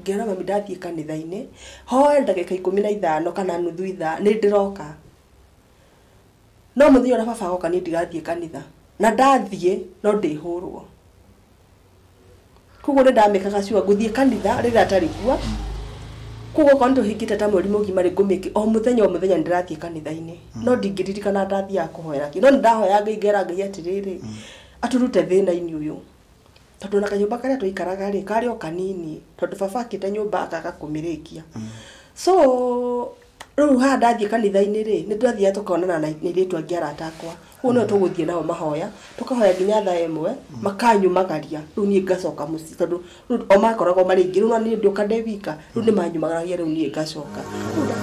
Ngera mami ndathiĩ kanitha-inĩ, hoe ndagĩka ikũmi na ithano kana nuthu ithaa, nĩ ndĩroka. No mũthenya ũrĩa baba agoka niĩ ndigathiĩ kanitha. Na ndathiĩ, no ndĩhũrwo. Kũguo nĩ ndamĩkaga sure ngũthiĩ kanitha rĩrĩa atarĩ kuo, kũguo okorwo nĩ tũhingĩte ta mweri mũgima rĩ, ngũmĩki o mũthenya o mũthenya nĩ ndĩrathiĩ kanitha-inĩ. No ndingĩririkana ndathiaga kũhoera kĩ. No nĩ ndahoyaga Ngai ngera Ngai atĩrĩrĩ, atũrute thĩna-inĩ ũyũ. tondũ ona kanyũmba karĩa twaikaraga rĩ karĩ o kanini tondũ baba akĩte nyũmba akaga kũmĩrĩkia so rĩu haha ndathiĩ kanitha-inĩ rĩ nĩ twathiaga tũkonana na airĩtu angĩ arata akwa ũguo nĩo tũgũthiĩ nao mahoya tũkahoya nginya thaa ĩmwe makanyumagaria rĩu niĩ ngacoka mũciĩ tondũ rĩu o makoragwo marĩ aingĩ rĩu no niĩ ndoka ndĩ wika Rĩu nĩ manyumagaragia rĩu niĩ ngacoka. Rĩu nda-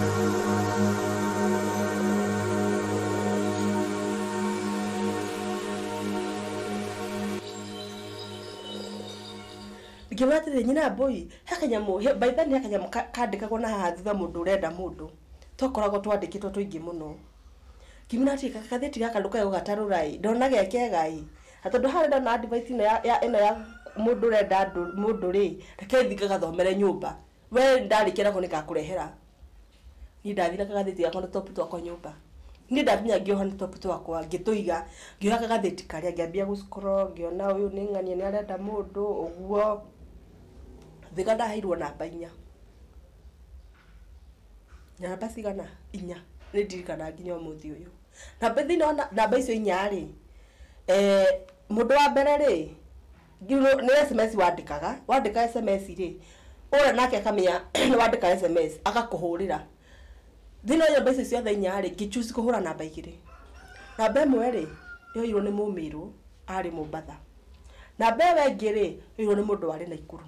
ngĩmwĩra atĩrĩ nyina mbũi he kanyamũ he- by then he kanyamũ ka- kandĩkagwo na haha thutha mũndũ ũrenda mũndũ twakoragwo twandĩkĩtwo tũingĩ mũno ngĩmwĩra atĩrĩ "Ga- gathĩti gaka ndũkae gũgatarũra ĩ ndona ge kega ĩ Na tondå harä ndona advice ĩno ya, ya, ĩno ya mũndũ ũrenda andũ mũndũ rĩ, reke thiĩ ngagathomere nyũmba. Wee ndarĩkia nako nĩ ngakũrehera. Niĩ ndathire kagathĩti gakwa na top twakwa nyũmba. Niĩ ndakinya ngĩoha na top twakwa, ngĩtũiga, ngĩoha kagathĩti karĩa, ngĩambia gũ scroll, ngĩona ũyũ nĩ ng'ania nĩ arenda mũndũ, ũguo. Thika ndaheirwo namba inya. Namba cigana? Inya. Nĩ ndirikanaga nginya ũmũthĩ ũyũ. Na thĩinĩ wa namba icio inya-rĩ, mũndũ wa mbere-rĩ, nĩ sms wandĩkaga, wandĩka sms-rĩ, ũrĩa nake akamenya nĩ wandĩka sms, agakũhũrĩra. Thĩinĩ wa namba icio ciothe inya-rĩ, ngĩ choose kũhũra namba igĩrĩ. Namba ĩmwe-rĩ, yoirwo nĩ mũmĩrũ arĩ Mombatha. Namba ĩyo ĩngĩ-rĩ, yoirwo nĩ mũndũ warĩ Naikuru.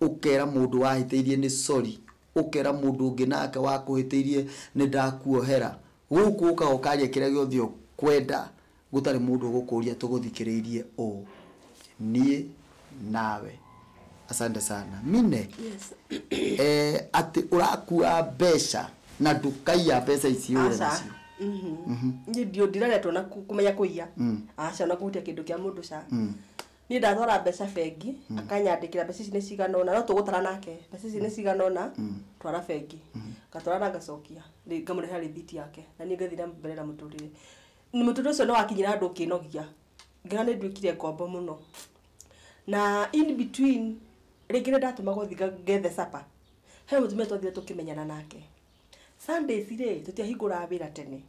Ũkera mũndũ wahĩtĩirie nĩ sorry, ũkera mũndũ ũngĩ nake wakũhĩtĩirie nĩ ndakuohera. Gũkũ ũkaga ũkaria kĩrĩa gĩothe ũkwenda gũtarĩ mũndũ ũgũkũria tũgũthikĩrĩirie ũũ niĩ nawe. Asante sana. Mine, Yes. eh, atĩ ũrakua mbeca na ndũkaiya mbeca ici ũre Aca. nacio. Mhm. Niĩ ndio ndireretwo na ku- kũmenya kũiya. Aca na kũhutia kĩndũ kĩa mũndũ ca. niĩ ndatwara mbeca bengi akanyandĩkĩra mbeca ici nĩ cigana ũna no tũgũtara nake mbeca ici nĩ cigana ũna twara bengi ngatwara na ngacokia rĩ- ngamũrehera rĩthiti yake na niĩ ngathiĩ na mbere na mũtũrĩre Nĩ- mũtũrĩre ũcio nĩ wakinyĩra andũ ngĩnogia ngĩona nĩ nduĩkire ngombo mũno na in between rĩngĩ nĩ ndatũmagwo thiĩ nga- ngethe supper he mũtumia twathire tũkĩmenyana nake Sundays rĩ tũtiahingũraga wĩra tene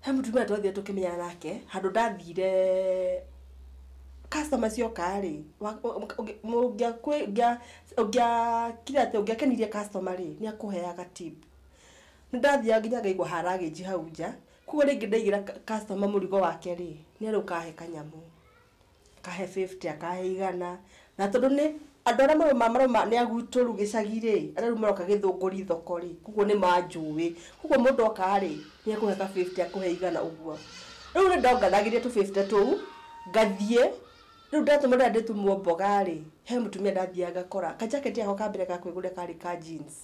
he mũtumia twathire tũkĩmenyana nake handũ ndathire customer cioka rĩ wa- wa- ũngĩ- ũngĩa- kwĩ- ũngĩa- ũngĩakire atĩ ũngĩakenirie customer rĩ nĩ akũheaga tip nĩ ndathiaga nginya ngaigua haragĩnji hau nja koguo rĩngĩ ndaigĩra cu- customer mũrigo wake rĩ nĩ arĩ ũkahe kanyamũ akahe bĩbute akahe igana na tondũ nĩ andũ arĩa marauma marauma nĩ agutũru gĩcagi rĩ arĩa rĩu maroka gĩthũngũri thoko rĩ koguo nĩ manjũĩ koguo mũndũ oka rĩ nĩ ekũhe ka bĩbute akũhe igana ũguo rĩu nĩ ndonganagĩria tũbĩbute tũu ngathiĩ rĩu ndatũma ndĩrenda ndĩtumwo mboga rĩ he mũtumia ndathiaga ngakora ka jacket gakwa ka mbere ga kwĩgũrĩra karĩ ka jeans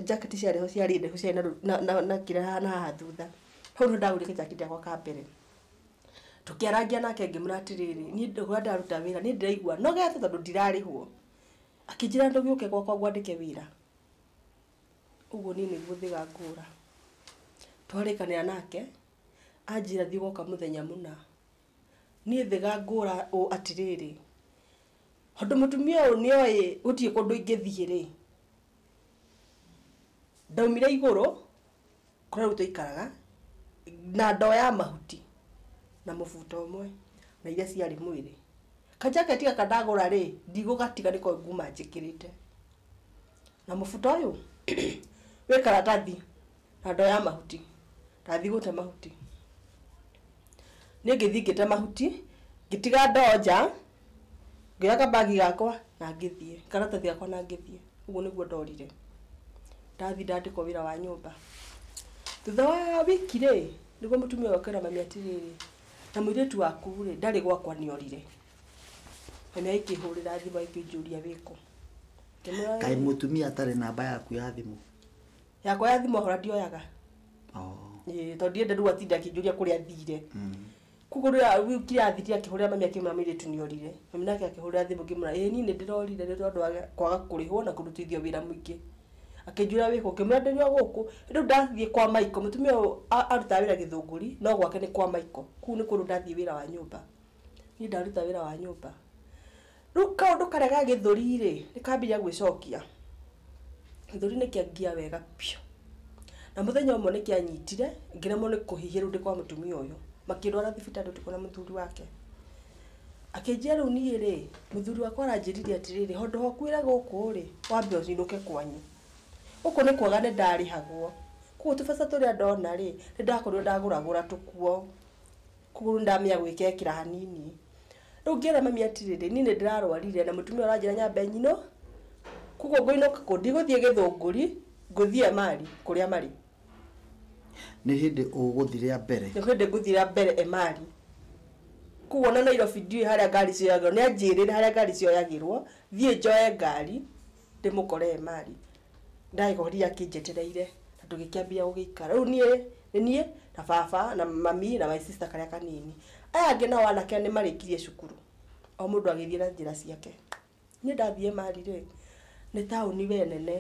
jacket ciarĩ ho ciarĩ ndaihu ciarĩ na na na kĩrĩa hahana haha thutha hau nĩho ndagũrire ka jacket gakwa ka mbere. Tũkĩarangia nake ngĩmwĩra atĩrĩrĩ, niĩ ndĩrauga ndaruta wĩra, niĩ ndĩraigua nogete tondũ ndirarĩhwo. Akĩnjĩra ndoge ũke gwakwa ngwandĩke wĩra. Ũguo niĩ nĩguo thĩga ngũra. Twarĩkanĩra nake, anjĩra thiĩ gwoka mũthenya mũna. Niĩ thĩga ngũra ũ atĩrĩrĩ, tondũ mũtumia ũyũ nĩoĩ gũtirĩ kũndũ ingĩthiĩ-rĩ, ndaumire igũrũ. kũrĩa rĩu twaikaraga na ndoo ya mahuti na mũbuto ũmwe na iria ciarĩ mwĩrĩ kajaketi gaka ndagũra rĩ ndigũgatiga nĩko nguma njĩkĩrĩte na mũbuto ũyũ wĩ karatathi na ndoo ya mahuti ndathiĩ gũte mahuti niĩ ngĩthiĩ ngĩte mahuti ngĩtiga ndoo nja Ngĩoya kabagi gakwa na ngĩthiĩ, karatathi gakwa na ngĩthiĩ. Ũguo nĩguo ndorire. Ndathiĩ ndandĩkwo wĩra wa nyũmba. Thutha wa wiki rĩ, nĩguo mũtumia ũyũ oka ĩra mami atĩrĩrĩ, na mũirĩtu waku rĩ, ndarĩ gwakwa nĩ orire. Mami agĩkĩhũrĩra thimũ agĩkĩnjũria wĩ kũ. Ngĩmwĩra kaĩ mũtumia atarĩ namba yaku ya thimũ yakwa ya thimũ ahora ndioyaga. Oh. Ĩĩ, tondũ ndiendete rĩu atinda akĩnjũria kũrĩa thire. Mm. Koguo rĩrĩa rĩu nginya athiire akĩhũrĩra mami akĩmwĩra mũirĩtu nĩ orire. Mami nake akĩhũrĩra thimũ ngĩmwĩra ĩĩ niĩ nĩ ndĩrorire nĩ tondũ wa kwaga kũrĩhwo na kũrutithio wĩra mũingĩ. Akĩnjũria wĩ kũ? Ngĩmwĩra ndĩrĩ o gũkũ. Rĩu ndathiĩ kwa Michael, mũtumia ũyũ arutaga wĩra Gĩthũngũri, no gwake nĩ kwa Michael. Kũu nĩ kũndũ ndathiĩ wĩra wa nyũmba. Niĩ ndaruta wĩra wa nyũmba. Rĩu kaũndũ karĩa ga gĩthũri rĩ, nĩ kambia gwĩcokia. Gĩthũri nĩ kĩangia wega biũ. Na mũthenya ũmwe nĩ kĩanyitire, ngĩremwo nĩ kũhihia rĩu ndĩ kwa mũtumia ũyũ. Makĩndwara thibitarĩ ũtukũ na mũthuri wake. Akĩnjia rĩu niĩ rĩ, mũthuri wakwa aranjĩrire atĩrĩrĩ, handũ ha ũkuĩre gũkũ rĩ, wambe ũinũke kwanyu. Gũkũ nĩ kwega nĩ ndarĩhagwo. Kũguo tũbeca tũrĩa ndona rĩ, nĩ ndakorirwo ndagũragũra tũkuo. kũgũrũ ndamenya gwĩkekĩra hanini rĩu ngĩra mami atirĩrĩ niĩ nĩ ndĩrarwarire na mũtumia ũranjĩra nyambe nyinũ koguo ngũinũka kũ ndigũthiĩ gĩthũngũri ngũthiĩ emari kũrĩa marĩ nĩ hĩndĩ ũgũthiĩ rĩa mbere nĩ hĩndĩ ngũthiĩ rĩa mbere emari koguo na Nairobi ndiũĩ harĩa ngari cioyagĩrwo nĩ anjĩrĩre harĩa ngari cioyagĩrwo thiĩ njoe ngari ndĩmũkore emari Ndagĩkorire akĩnjetereire na tũgĩkĩambia gũgĩikara. Rĩu niĩ nĩ niĩ na baba na mami na my sister karĩa kanini. Aya angĩ nao anake nĩ marĩkirie cukuru, o mũndũ agĩthiĩ na njĩra ciake. Niĩ ndathiĩ Mali rĩ, nĩ taũni we nene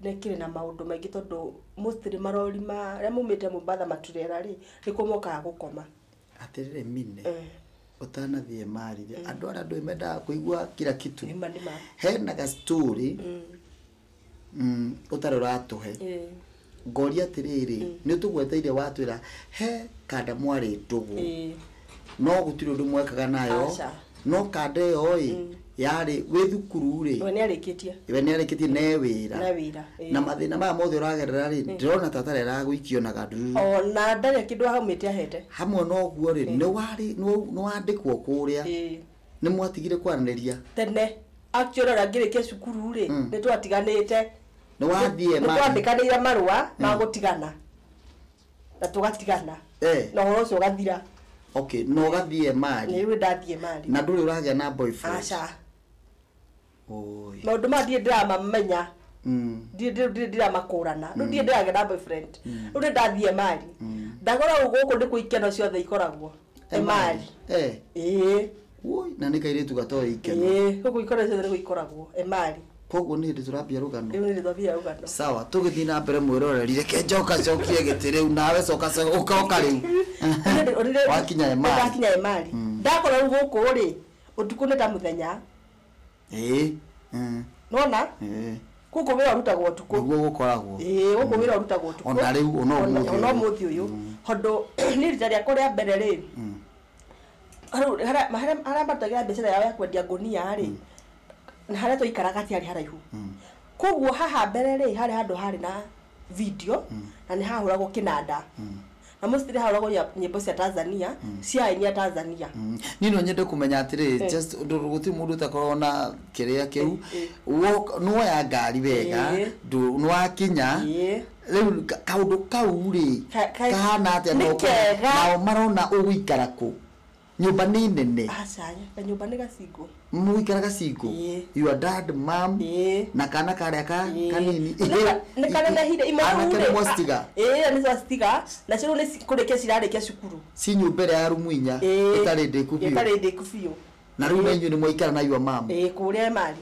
na ĩkĩrĩ na maũndũ maingĩ tondũ mostly marori marĩa maumĩte Mombatha maturera rĩ, nĩkuo mokaga gũkoma. atĩrĩrĩ mine ũtanathiĩ marire andũ arĩa andũ mendaga kũigua kila kitu Nĩma, nĩma. hena ga story mm, ũtarĩ ũratũhe Eh, ngoria atĩrĩrĩ nĩ ũtũgweteire watwĩra he kanda mwarĩ ndũgũ eh, no gũtirĩ ũndũ mwekaga nayo aca no kanda ĩyo ĩ yarĩ wĩ thukuru rĩ we nĩ arĩkĩtie we nĩ arĩkĩtie ne wĩra na wĩra ĩĩ. na mathĩna maya mothe ũragerera rĩ ndĩrona ta tarĩ aragũikio na gandururu ona ndarĩ kĩndũ aumĩte ahete hamwe na ũguo rĩ nĩ warĩ- nĩ- nĩ wandĩkwo kũrĩa Ĩĩ. nĩ mwatigire kwaranĩria tene actually ona ngĩrĩkia cukuru rĩ Mm. nĩ twatiganĩte nĩ wathiĩ nĩ ma- twandikanĩire marũa ma gũtigana na tũgatigana Eh. na ũhoro ũcio ũgathira okay na ũgathiĩ mari nĩwe ndathiĩ mari na ndũrĩ ũragĩa na boyfriend aca Oi. maũndũ maya ndirĩ ndĩramamenya Mm. ndirĩ ndirĩ- ndirĩ ndĩramakũrana rĩu ndirĩ ndĩragĩa na boyfriend rĩu nĩ ndathiĩ mari ndagora gũkũ nĩkuo ikeno ciothe ikoragwo Emali. eh ĩĩ woi na nä kairä tu gatoä ikeno ĩĩ ũguo ikora ciothe nĩ gũikoragwo emali koguo nä hä ndä tå rambia rå gano rĩu nĩ rĩthabia rũgano sawa tå gä thiä na mbere mwä roreri reke njoka cokie gä tä rä u nawe coka å koka rä u wakinya emari ndakinya emali ndakora rĩu gũkũ rĩ ũtukũ nĩ ta mũthenya ĩĩ mm, nona ĩĩ gũkũ wĩra ũrutagwo ũtukũ nĩguo gũkoragwo ĩĩ gũkũ wĩra ũrutagwo ũtukũ Ona rĩu, ona ũmũthĩ ũyũ. ona ũmũthĩ ũyũ tondũ niĩ rita rĩakwa rĩa mbere rĩ rĩu harĩa- harĩa harĩa marutagĩra mbiacara yao ya kwendia ngũnia rĩ na harĩa twaikaraga hatiarĩ haraihu koguo haha mbere rĩ harĩ handũ harĩ na video na nĩ hahũragwo kĩnanda na most nĩ hahũragwo nya- nyĩmbo cia tanzania cia aini a tanzania niĩ no nyende kũmenya atĩrĩ just ndũ- gũtirĩ mũndũ ũtakoragwo na kĩrĩa kĩu Eh, Wo- nĩwoya ngari wega Eh. ndũ- nĩwakinya Eh. rĩu ka- kaũndũ kau rĩ Ka- ka- kahana atĩa nĩ na ũkona- kega. nao marona ũgũikara kũ Nyũmba nĩ nene. Aca, kanyũmba nĩ gacingo. Mũgũikara gacingo? Ĩĩ. Your dad, mom, Ĩĩ. na kana karĩa ka Ĩĩ. kanini. Nĩ- nĩ kanenehire imwe rĩu Anake rĩ, nĩ mwacitiga? a- ĩĩ nĩ twacitiga na cio rĩu nĩ ci- kũrĩkia cirarĩkia cukuru Ci nyũmba ĩrĩa ya rumu inya Ĩĩ. ĩtarĩ ndĩku biũ. ĩtarĩ ndĩku biũ Na rĩu na Ĩĩ. inyuĩ nĩ mwaikara na your mom? Ĩĩ, kũrĩa emari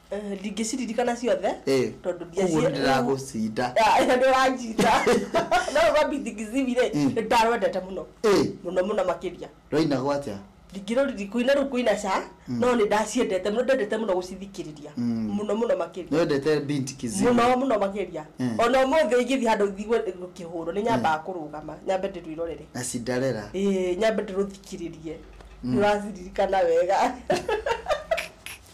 Eh, ndingĩciririkana ciothe Eh, tondũ koguo ndiacie- nĩndĩragũcinda. Ah, ĩyo ndũranjita no ũgwambi ndingĩcibire Mm. nĩndarwendete mũno Eh, mũno mũno makĩria rwaina gwacha ndingĩroriri kuina rĩu kuina ca no nĩ ndaciendete mũno ndendete mũno gũcithikĩrĩria Mm. mũno mũno makĩria nĩwendete binti kizigo mũno mũno makĩria Mm. ona ũmũthĩ ingĩthiĩ handũ thigwe gũkĩhũrwo nĩ nyambaga kũrũgama nyambe ndĩrwĩrorere na cinderera Ĩĩ, nyambe ndĩrũthikĩrĩrie nĩũraciririkana wega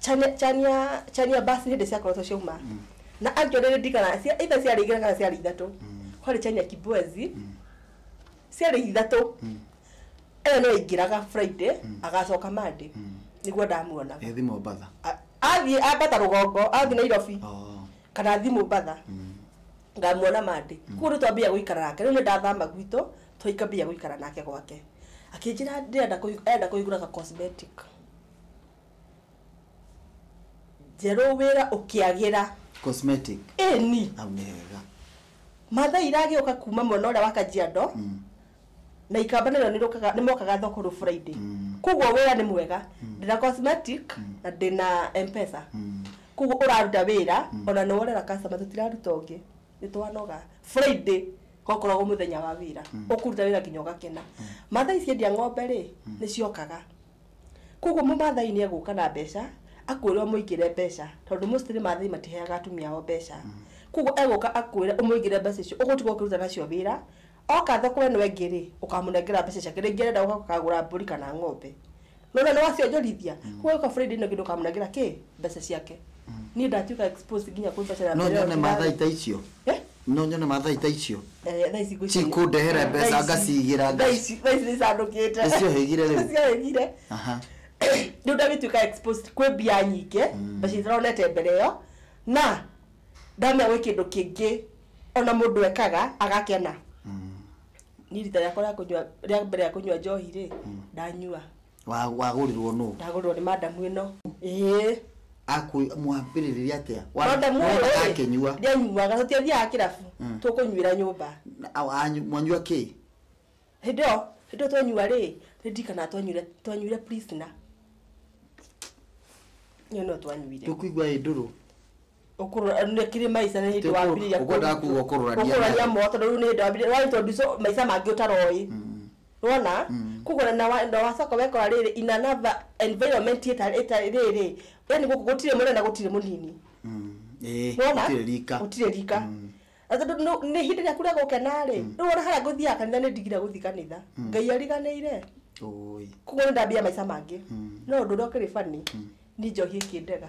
Chania, chania, chania basi hĩndĩ ciakoretwo ciauma na actually ndigana cia either ciarĩ igĩrĩ kana ciarĩ ithatũ kwarĩ chania kibwezi ciarĩ ithatũ ĩyo no ingĩraga friday agacoka monday nĩguo ndamuonaga Ethi Mombatha. A- athiĩ ambata rũgongo athiĩ nairobi Oh. kana athiĩ mũmbatha ngamuona mandĩ kuo nĩ twambia gũikara nake rĩu nĩ ndathama gwitũ twaikambia gũikara nake gwake akĩnjĩra ndĩrenda kũhi- enda kũhingũra ka cosmetic Njerũ wĩra ũkĩagĩra. Cosmetic. Ĩni. Hau nĩ hega. Matha iragĩũka kuma mwena ũrĩa wa Kajiado, na ikamba narĩo nĩrĩũkaga nĩmokaga thoko rũ Friday. Kuoguo wĩra nĩ mwega. Ndĩna cosmetic, na ndĩna M-pesa. Kuoguo ũraruta wĩra, ona nĩworera customer tũtiraruta ũngĩ. Nĩtwanoga. Friday gokoragwo mũthenya wa wĩra. Ũkũruta wĩra kinya ũgakena. Matha ici endia ng'ombe-rĩ, nĩciokaga. Koguo mũmaathai nĩ egũka na mbeca akwĩre ũmũigĩre mbeca tondũ mostly maathai matiheaga atumia ao mbeca. Koguo egũka akwĩre ũmũigĩre mbeca icio ũgũtiga ũkĩruta nacio wĩra. Oka thoko ĩno ĩngĩ rĩ, ũkamũnengera mbeca ciake. Rĩngĩ arenda gũka kũgũra mbũri kana ng'ombe. Nĩ wona nĩ wacionjorithia? Koguo agĩũka Friday ĩno ĩngĩ ndũkamũnengera kĩ? Mbeca ciake. Niĩ ndatuĩka exposed nginya kwĩ mbeca ya No mbere ĩyo nyone maathai ndĩrarĩa. ta icio? Eh? No nyone mathai ta icio Eh, thaa ici ngũici- cikũndehere Thaa mbeca ici- ngacigĩra thaa ngaci- ici- thaa ici nĩcandũkĩte Nĩciohĩgire rĩu? Nĩciohĩgire. Aha. rĩu ndagĩtuĩka exposed kwĩ mbia nyingĩ mbeca itaronete mbere ĩyo na ndamenya gwĩ kĩndũ kĩngĩ ona mũndũ ekaga agakena niĩ rita rĩakwa rĩa kũnyua rĩa mbere rĩa kũnyua njohi rĩ ndanyua Wa- wagũrirwo nũ ndagũrirwo nĩ madam ĩno ĩĩ Akũ- mwambĩrĩrĩria atĩa Wa- madam ũyũ mwendaga rĩ, akĩnyua ndianyuaga tũtiathiaga kĩrabu Mm. tũkũnyuĩra nyũmba Na- a- anyu- mwanyua kĩ hĩndĩ ĩyo hĩndĩ ĩyo twanyua rĩ nĩndirikanaga twanyuire twanyuire prisoner ĩyo no twanyuire tũkũigua ĩ ndũrũ ũkũrũranekire maica nĩ hĩndĩ wambirĩria ũkwenda kuga ũkũrũrania ũkũrũrania mo tondũ rĩu nĩ hĩndĩ wambirĩria rwa introduce maica mangĩ ũtaroĩ wona koguo na- na wa- na wacoka wekora rĩrĩ in another environment ĩtarĩ ĩtarĩ rĩrĩ yani gũkũ gũtirĩ mũnene na gũtirĩ mũnini Ĩĩ, wona gũtirĩ rika gũtirĩ rika Na tondũ nũ- nĩ hĩndĩ ĩrĩa kura gũkena rĩ rĩu ona harĩa ngũthiaga kanitha nĩ ndigire gũthiĩ kanitha ngai ariganĩire Ũũi. koguo nĩ ndambia maica mangĩ no ũndũ ũrĩa ũkĩrĩ bani nĩ njohi ĩkĩndega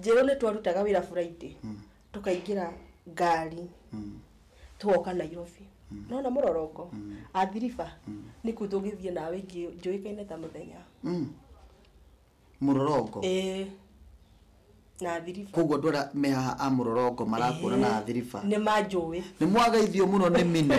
njerũ nĩ twarutaga wĩra friday tũkaingĩra ngari twoka nairobi nona mũrorongo athiriba nĩ kuu tũngĩthiĩ nawe ingĩ njũĩkaine ta mũthenya mũrorongo ĩĩ na athiriba koguo andũ arĩa me haha a mũrorongo marakuona na athiriba nĩ manjũĩ nĩ mwagaithio mũno nĩ mine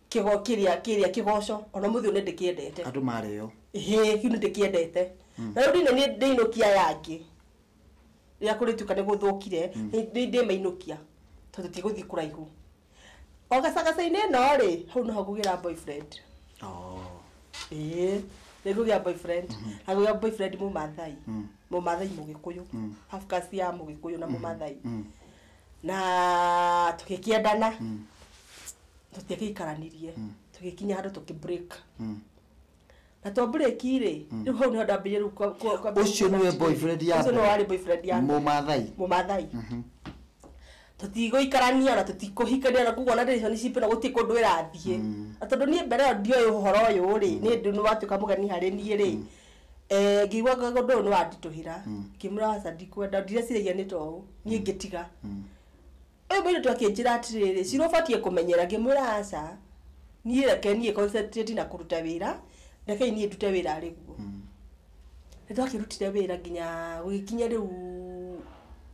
Kĩgo kĩrĩa kĩrĩa kĩgoco ona mũthĩ ũyũ nĩndĩkĩendete. Andũ marĩo. Ĩhĩ kĩu nĩndĩkĩendete. Na rĩu ndĩna nĩ ndĩinũkia aya angĩ. Rĩrĩa kũrĩtuĩka nĩgũthũkire nĩ nĩ ndĩmainũkia tondũ tũtigũthiĩ kũraihu. O gacagaca-inĩ ĩno-rĩ, hau noho ngũgĩra boyfriend. Ĩĩ nĩngũgĩa boyfriend. Na ngũgĩa boyfriend mũmaathai. Mũmaathai mũgĩkũyũ. Half caste ya mũgĩkũyũ na mũmaathai. na tũgĩkĩendana tũtiagĩikaranirie tũgĩkinya handũ tũkĩ break na twa break rĩ rĩu hau nĩho ndambĩrĩria rĩu kwa- kwa- kwa- Ũcio nĩwe kwa- boyfriend ya ũcio nĩwe mbere? warĩ boyfriend ya mbere. Mũmathai? mũmathai tũtigũikarania na tũtikũhikania na kuguo na ndĩriconi citũ na gũtirĩ kũndũ ĩrathiĩ na tondũ niĩ mbere ĩyo ndioĩ ũhoro ũyũ rĩ nĩ ndĩ nĩ watuĩka mũgeni harĩ niĩ rĩ Eh, ngĩigua nga- ũndũ ũyũ nĩ wanditũhĩra ngĩmwĩra aca ndikwenda ndireciria nĩ ta ũũ niĩ ngĩtiga ũyũ mũirĩtu akĩnjĩra atĩrĩrĩ cira ũbatiĩ kũmenyera ngĩmwĩra aca niĩ reke niĩ concentrate na kũruta wĩra rekei niĩ ndute wĩra arĩ guo nĩ twakĩrutire wĩra nginya gũgĩkinya rĩu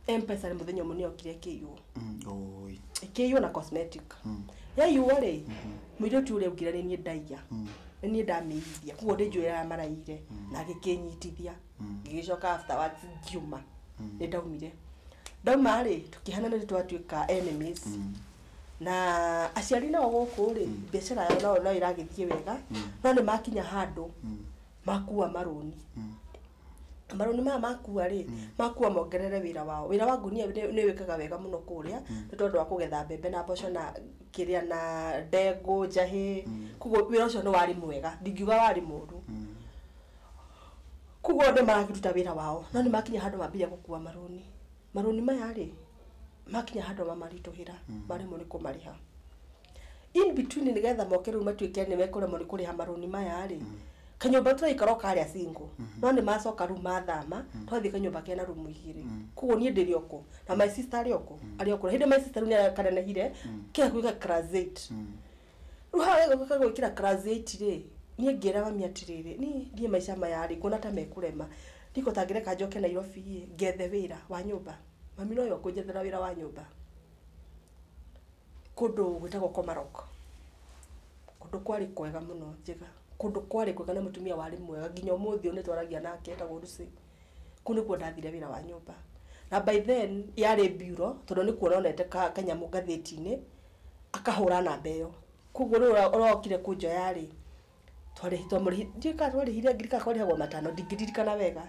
M-pesa mũthenya ũmwe nĩ yokire ĩkĩiywo Mm, oi. ĩkĩiywo na cosmetic yaiywo rĩ mũirĩtu ũrĩa ũngire nĩ niĩ ndaiya nĩ niĩ ndamĩigithia koguo ndĩ njũĩ ya maraire na agĩkĩnyitithia ngĩgĩcoka after words ngiuma nĩ ndaumire ndauma rĩ tũkĩhana nĩ twatuĩka enemies na aciari nao gũkũ rĩ biacara yao nao no ĩragĩthiĩ wega no nĩ makinya handũ makua marũni marũni maya makua rĩ makua mongerere wĩra wao wĩra wa ngunia nĩ nĩ wĩkaga wega mũno kũrĩa nĩ tondũ wa kũgetha mbembe na mboco na kĩrĩa na ndengũ njahĩ koguo wĩra ũcio nĩ warĩ mwega ndingiuga warĩ mũru koguo andũ marakĩruta wĩra wao no nĩ makinya handũ mambire gũkua marũni marũni maya rĩ makinya handũ mamaritũhĩra maremwo nĩ kũmarĩha. in between nĩgetha moke rĩu matuĩke nĩ mekũremwo nĩ kũrĩha marũni maya rĩ kanyũmba tũraikara o karĩa singo no nĩ macoka rĩu mathama twathiĩ kanyũmba kena rumu igĩrĩ koguo niĩ ndĩrĩ oko na my sister arĩ oko arĩ oko hĩndĩ my sister rĩu nĩ akanenehire kĩga gwĩka class eight rĩu haha gagĩũka gwĩkĩra class eight rĩ niĩ ngĩra mami atĩrĩrĩ niĩ ndiĩ maica maya rĩ nguona ta mekũrema niko tangĩreka njoke Nairobi ĩ ngethe wĩra wa nyũmba mami nowe ũkũnjethera wĩra wa nyũmba Kũndũ gwĩtagwo Komarok, kũndũ kwarĩ kwega mũno njega, kũndũ kwarĩ kwega na mũtumia warĩ mwega nginya ũmũthĩ ũyũ nĩtwaragia nake etagwo Lucy. Kũu nĩkuo ndathire wĩra wa nyũmba. Na by then yarĩ bureau tondũ nĩ kuona onete ka kanyamũ ngathĩti-inĩ akahũra namba ĩyo. Kuoguo rĩu ũrĩa ũrokire kũnjoya-rĩ twarĩhi twamũrĩhi ndiũĩ kana twarĩhire ngiri kana kwarĩhagwo matano ndingĩririkana wega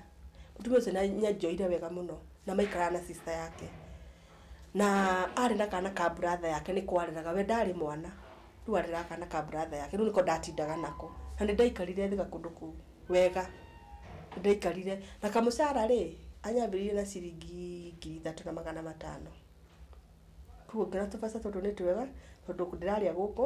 mũtumia ũcio nĩ anjoire wega mũno na maikaraga na sister yake na arĩ na kana ka brother yake nĩko areraga we ndarĩ mwana rĩu areraga kana ka brother yake rĩu nĩko ndatindaga nako na nĩ ndaikarire thĩ gakũndũ kũu wega nĩ ndaikarire na kamũcara rĩ anyambĩrĩirie na ciringi ngiri ithatũ na magana matano koguo ngĩona tũbeca tũtũ nĩ twega tondũ ndĩrarĩa gũkũ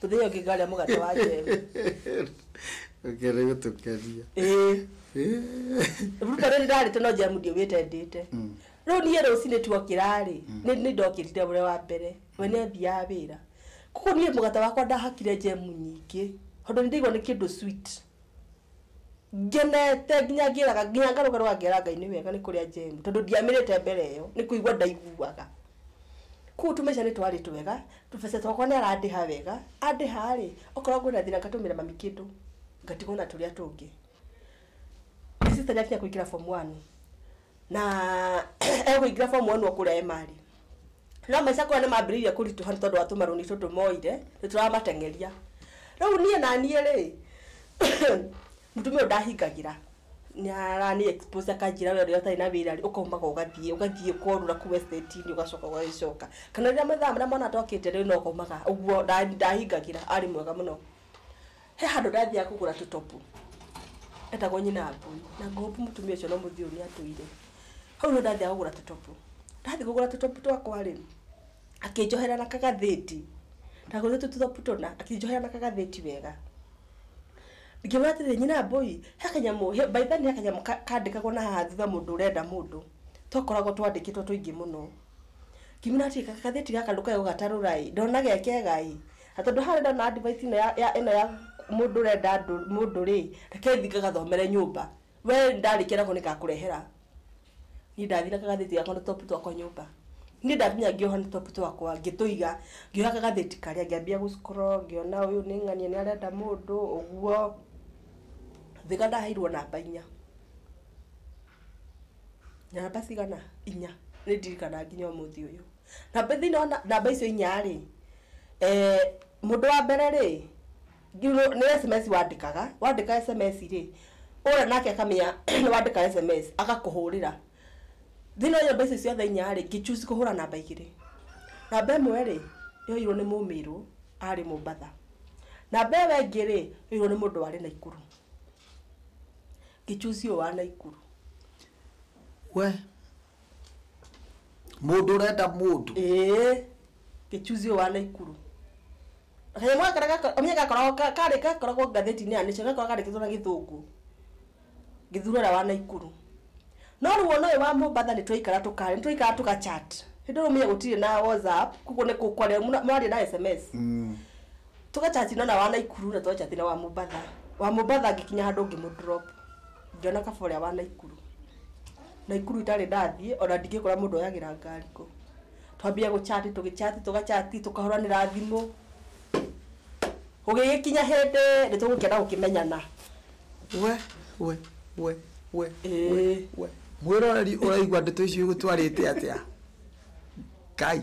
tũthĩo kĩ ngarĩa mũgate wa njembe ũkĩenda gũtũkenia ĩĩ ruta rĩrĩ ndarĩte no njemu ndiũgĩte ndĩte rĩu niĩ rũcinĩ tuokĩra-rĩ nĩ nĩ ndokĩrire ũrĩa wa mbere we nĩ athiaga wĩra koguo niĩ mũgate wakwa ndahakire njemu nyingĩ tondũ nĩ ndaigua nĩ kĩndũ sweet Ngenete nginya ngĩraga nginya ngarũga rũga ngera Ngai nĩ wega nĩ kũrĩa njemu tondũ ndiamĩrĩte mbere ĩyo nĩ kũigua ndaiguaga. Kũguo tũmbeca nĩ twarĩ twega, tũbeca twakwa nĩ arandĩha wega, andĩha rĩ, okorwo kwĩna thĩna ngatũmĩra mami kĩndũ ngatigwo na tũrĩa tũngĩ. Sister nĩ akinya kũingĩra form one na ekũingĩra form one o kũrĩa Emali. no maica kũrĩa nĩ mambĩrĩirie kũritũha nĩ tondũ wa tũmarũni tũtũ moire nĩ tũramateng'eria rĩu niĩ na niĩ rĩ mũtumia ũyũ ndahingagĩra arani expose akanjĩra we rĩrĩa ũtarĩ na wĩra rĩ ũkaumaga ũgathiĩ ũgathiĩ kũrũra kũu estate-inĩ ũgacoka ũgagĩcoka kana rĩrĩa mathaa marĩa mwana atokĩte rĩ no ũkaumaga ũguo ndahingagĩra arĩ mwega mũno. He handũ ndathiaga kũgũra tũtopu etagwo nyina wa ngui na ngũhopu mũtumia ũcio no mũthii ũrĩa atũire hau no ndathiaga kũgũra tũtopu ndathiĩ kũgũra tũtopu twakwa rĩ akĩnjohera na kagathĩti ndagũrĩte tũtopu tũna akĩnjohera na kagathĩti wega ngĩmwĩra atĩrĩ nyina mbũi he kanyamũ he- by then he kanyamũ ka- kandĩkagwo na haha thutha mũndũ ũrenda mũndũ twakoragwo twandĩkĩtwo tũingĩ mũno Ngiumĩra atĩ gagathĩti gaka ndũkae gũgatarũra ĩ, ndona ge kega ĩ, na tondũ haha ndĩrona advice ĩno ya ya ĩno ya mũndũ ũrenda andũ mũndũ rĩ, reke thiĩ ngagathomere nyũmba. We ndarĩkia nako nĩngakũrehera. Niĩ ndathire na kagathĩti gakwa na tũtopu twakwa nyũmba. Niĩ ndakinya ngĩoha na tũtopu twakwa, ngĩtũiga, ngĩoha kagathĩti karĩa ngĩambia gũ scroll ngĩona ũyũ nĩ ng'ania nĩarenda mũndũ, ũguo. Ngĩũka ndaheirwo namba inya. Namba cigana? Inya. Nĩ ndirikanaga nginya ũmũthĩ ũyũ. Namba thĩinĩ wa namba icio inya rĩ, mũndũ wa mbere rĩ, nĩ sms wandĩkaga, wandĩka sms rĩ, ũrĩa nake akamenya nĩ wandĩka sms, agakũhũrĩra. Thĩinĩ wa namba icio ciothe inya rĩ, ngĩ choose kũhũra namba igĩrĩ. Namba ĩmwe rĩ, yoirwo nĩ mũmĩrũ arĩ Mombatha. Namba ĩyo ĩngĩ rĩ, yoirwo nĩ mũndũ warĩ Naikuru. Gĩchuzi ũyũ wa Naikuru. We. Mũndũ ũrenda mũndũ. Ĩĩ. Gĩchuzi ũyũ wa Naikuru. Kanyamũ gaka karĩa gako- ũmenye gakoragwo ka- karĩ- gakoragwo ngathĩti-inĩ ya Nation, gakoragwo kandĩkĩtwo na gĩthũngũ. Gĩthurũra ũrĩa wa Naikuru. No rĩu ona ũyũ wa Mombatha nĩ twaikara tũka- nĩ twaikara tũga chat. Hĩndĩ ĩyo ũmenye gũtirĩ na WhatsApp, koguo nĩ kũ- kwaria mũna- mwaria na SMS. tũgachati na wa naikuru na tũgachati na wa mũmbatha wa mũmbatha ngĩkinya handũ ngĩmũdrop ngĩona kaba ũrĩa wa naikuru naikuru itarĩ ndathiĩ ona ndingĩkora mũndũ oyagĩra ngari kũ twambia gũchati tũgĩchati tũgachati tũkahũranĩra thimũ ũgĩgĩkinya hĩndĩ nĩ tũgũkĩenda gũkĩmenyana we we we we Ĩĩ. we mwĩroreri ũraigua ndeto icio igũtwarĩte atĩa ngai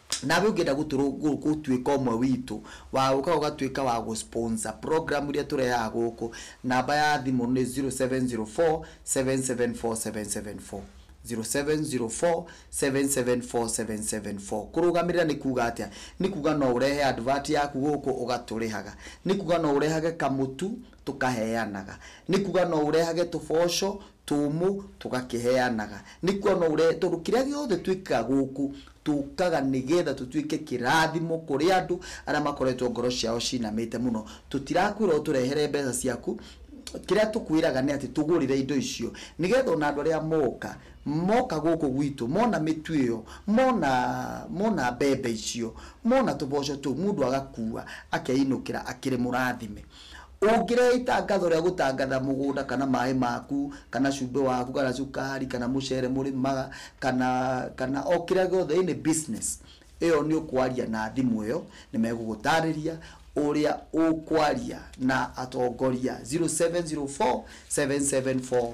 Nawe ũngĩenda gũtũrũ- gũ- gũtuĩka ũmwe witũ, wagũka ũgatuĩka wa gũ sponsor program iria tũrehaga gũkũ, namba ya thimũ nĩ 0704774774, 0704774774. Kũrũgamĩrĩra nĩ kuga atĩa? Nĩ kuga no ũrehe advert yaku gũkũ ũgatũrĩhaga. Nĩ kuga no ũrehage kamũtu tũkaheanaga. Nĩ kuga no ũrehage tũboco tũmũ tũgakĩheanaga. Nĩ kuga no ũrehe, tondũ kĩrĩa gĩothe twĩkaga gũkũ, tũkaga nĩgetha tũtuĩke kĩrathimo kũrĩ andũ arĩa makoretwo ngoro ciao cinamĩte mũno. Tũtirakwĩra ũtũrehere mbeca ciaku, kĩrĩa tũkwĩraga nĩ atĩ tũgũrĩre indo icio, nĩgetha ona andũ arĩa moka, moka gũkũ gwitũ, mona mĩtu ĩyo, mona, mona mbembe icio, mona tũboco tũu, mũndũ agakua, akeinũkĩra akĩrĩ mũrathime. Ũngĩrehe itangatho rĩa gũtangatha mũgũnda kana maĩ maku kana cumbĩ waku kana cukari kana mũcere mũrĩmaga kana kana o kĩrĩa gĩothe any business ĩyo nĩ ũkwaria na thimũ ĩyo nĩmegũgũtarĩria ũrĩa ũkwaria na atongoria 0704 774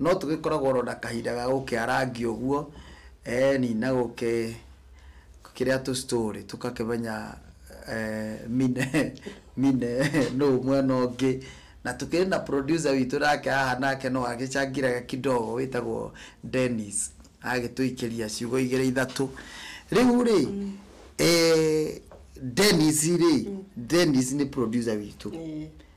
No tũgĩkoragwo oro na kahinda ga gũkĩarangia ũguo, eni, na gũkĩrĩa tũ story tũgakĩmenya mine mine nũ mwena ũngĩ. Na tũkĩrĩ na producer witũ nake haha nake no agĩcangiraga kidogo wĩtagwo Dennis, agagĩtũikĩria ciugo igĩrĩ ithatũ. Rĩu rĩ, Dennis rĩ, Dennis nĩ producer witũ.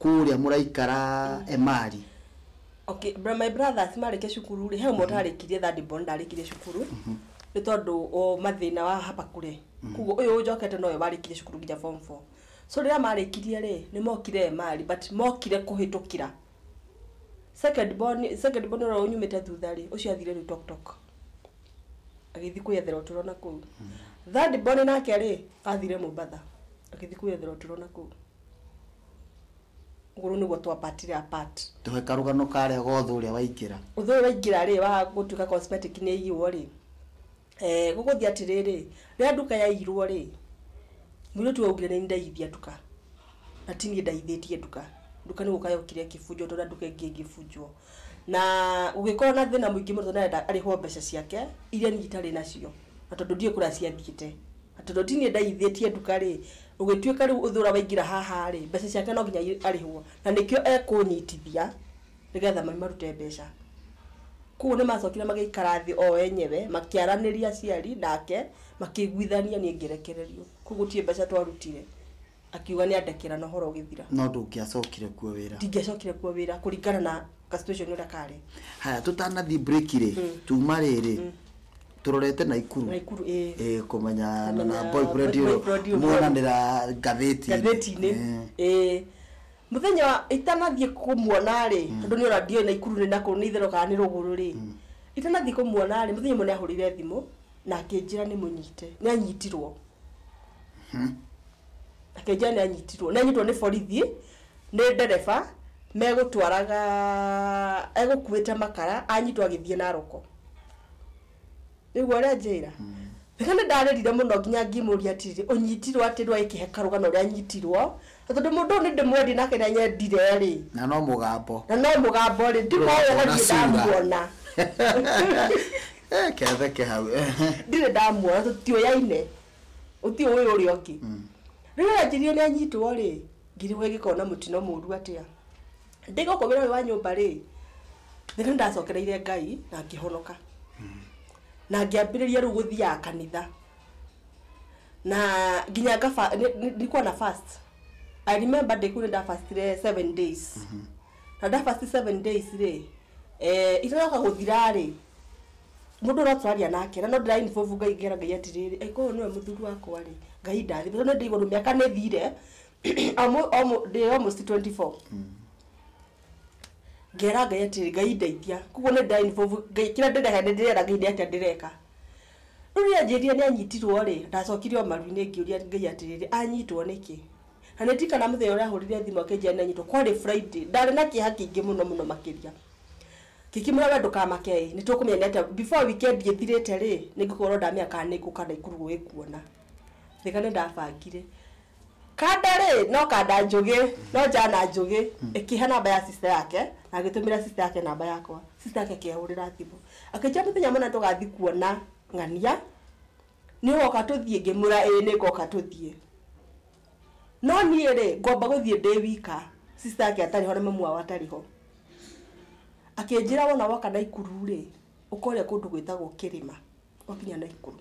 kũrĩa mũraikara Emali. Okay, bro, my brothers marĩkia cukuru rĩ he ũmwe ũtarĩkirie third born ndarĩkirie cukuru nĩ tondũ o mathĩna wa hapa kure koguo ũyũ ũnjokete nowe warĩkirie cukuru nginya form 4 so rĩrĩa marĩkirie rĩ nĩ mokire Emali but mokire kũhĩtũkĩra second born second born ũrĩa ũnyumĩte thutha rĩ ũcio athire rĩu tok tok agĩthiĩ kwĩyethera ũtũro na kũu third born nake rĩ athire Mombatha agĩthiĩ kwĩyethera ũtũro na kũu Gũrũ nĩguo twambatire apart. Tũhe karũgano ka harĩa gothe ũrĩa waingĩra. Ũthũ ũyũ waingĩra rĩ, wa gũtuĩka cosmetic nĩ ĩiyirwo rĩ, eh gũgũthiĩ atĩrĩrĩ, rĩrĩa nduka yaiyirwo rĩ, mũirĩtu ũyũ augire nĩ niĩ ndaiyithia nduka, na ti niĩ ndaiyithĩtie nduka. Nduka nĩ gũka yokire ĩkĩbunjwo tondũ ona nduka ĩngĩ ĩngĩbunjwo. Na gũgĩkorwo na thĩna mũingĩ mũno tondũ nĩ arenda arĩhwo mbeca ciake iria niĩ itarĩ nacio, na tondũ ndiũĩ kũrĩa ciathiĩte. Tondũ ti niĩ ndaigithĩtie nduka-rĩ, ũgĩtuĩka rĩu ũthĩ ũrĩa waingĩra haha-rĩ, mbeca ciake no nginya arĩhwo. Na nĩkĩo ekũnyitithia nĩgetha marute mbeca. Kuoguo nĩmacokire magĩikara thĩ o enyewe makĩaranĩria aciari nake, makĩiguithania niĩ ngĩrekererio. Kuoguo gũtirĩ mbeca twarutire. akiuga nĩ andekera na ũhoro ũgĩthira no ndũngĩacokire kuo wĩra ndingĩacokire kuo wĩra kũringana na ka situation ũrĩa karĩ haya tũtanathiĩ break rĩ tuma rĩrĩ tũrorete na ikuru Naikuru, ĩĩ. Eh, kũmenya na na boyfriend boyfriend ũyũ ũyũ. muonanĩra ngathĩti ngathĩti-inĩ ĩĩ mũthenya wa- itanathiĩ kũmuona rĩ tondũ nĩ ona ndioĩ na ikuru nĩ nakũ nĩ itherũ kana nĩ rũgũrũ rĩ itanathiĩ kũmuona rĩ mũthenya ũmwe nĩ ahũrĩire thimũ na akĩnjĩra nĩ mũnyite nĩ anyitirwo akĩnjĩra nĩ anyitirwo nĩ anyitirwo nĩ borithi nĩ ndereba megũtwaraga egũkuĩte makara anyitwo agĩthiĩ naroko nĩguo arenjĩra Thika nĩ ndarĩrire mũno nginya ngĩmũria atĩrĩ ũnyitirwo atĩ rĩu agĩkĩhe karũgano ũrĩa anyitirwo Na tondũ mũndũ ũyũ nĩndĩmwendie na kĩrĩa nyendire-rĩ. Na no mũgambo. Na no mũgambo-rĩ, ndimoĩ na ndirĩ ndamuona. Reke atheke hau, ehe. Ndirĩ ndamuona na tũtioyaine, gũtirĩ ũĩ ũrĩa ũngĩ. Rĩu rĩrĩa anjĩrire nĩanyitwo-rĩ, ngĩrigwo ingĩkorwo na mũtino mũru atĩa. Ndĩ gũkũ wĩra ũyũ wa nyũmba-rĩ, nĩ nĩndacokereire Ngai na ngĩhonoka. Na ngĩambĩrĩria rĩu gũthiaga kanitha. na nginya ngaba nĩ- nĩ- nilikuwa na fast i remember day kuu ndafastire seven days na ndafasti seven days rĩ eh, itanoka gũthira rĩ mũndũ ũrĩa tũraria nake na no ndĩra involve ngai ngera ngai atĩrĩrĩ angĩkorwo nĩwe mũthuri wakwa rĩ ngai ndathime tondũ nĩ ndĩ igũrũ mĩaka nĩ thire o mũ- o mũ- ndĩ almost 24 ngera Ngai atĩrĩrĩ, Ngai ndeithia, koguo nĩ ndĩ involve Ngai, kĩrĩa ndĩreka nĩ ndĩrera Ngai nĩ atĩa ndĩreka. Rĩu rĩrĩa anjĩrire nĩ anyitirwo rĩ, ndacokire o maru-inĩ ngĩũria Ngai atĩrĩrĩ, anyitwo nĩkĩ? Na nĩ ndirikanaga mũthenya ũrĩa ahũrĩire thimũ akĩnjĩra nĩ anyitwo, kwarĩ Friday, ndarĩ na kĩeha kĩingĩ mũno mũno makĩria. Ngĩkĩmwĩra we ndũkamake ĩ, nĩ tũkũmenya nĩ atĩa, before weekend ĩthirĩte rĩ, nĩ ngũkorwo ndamenya kana nĩ ngũka Naikuru gũgĩkuona. Rĩrĩa nĩ ndabangire. Kanda rĩ no kanda njũgĩ no njana njũgĩ ĩkĩhe namba ya sister yake na agĩtũmĩra sister yake namba yakwa sister yake akĩhũrĩra thimũ akĩnjĩra mũthenya mũna tũgathiĩ kuona ng'ania nĩ ũgoka tũthiĩ ngĩmwĩra ĩĩ nĩ ngoka tũthiĩ no niĩ rĩ ngwamba gũthiĩ ndĩ wika sister yake atarĩ ho na mamu wao atarĩ ho akĩnjĩra wona woka Naikuru rĩ ũkore kũndũ gwĩtagwo kĩrĩma gwakinya Naikuru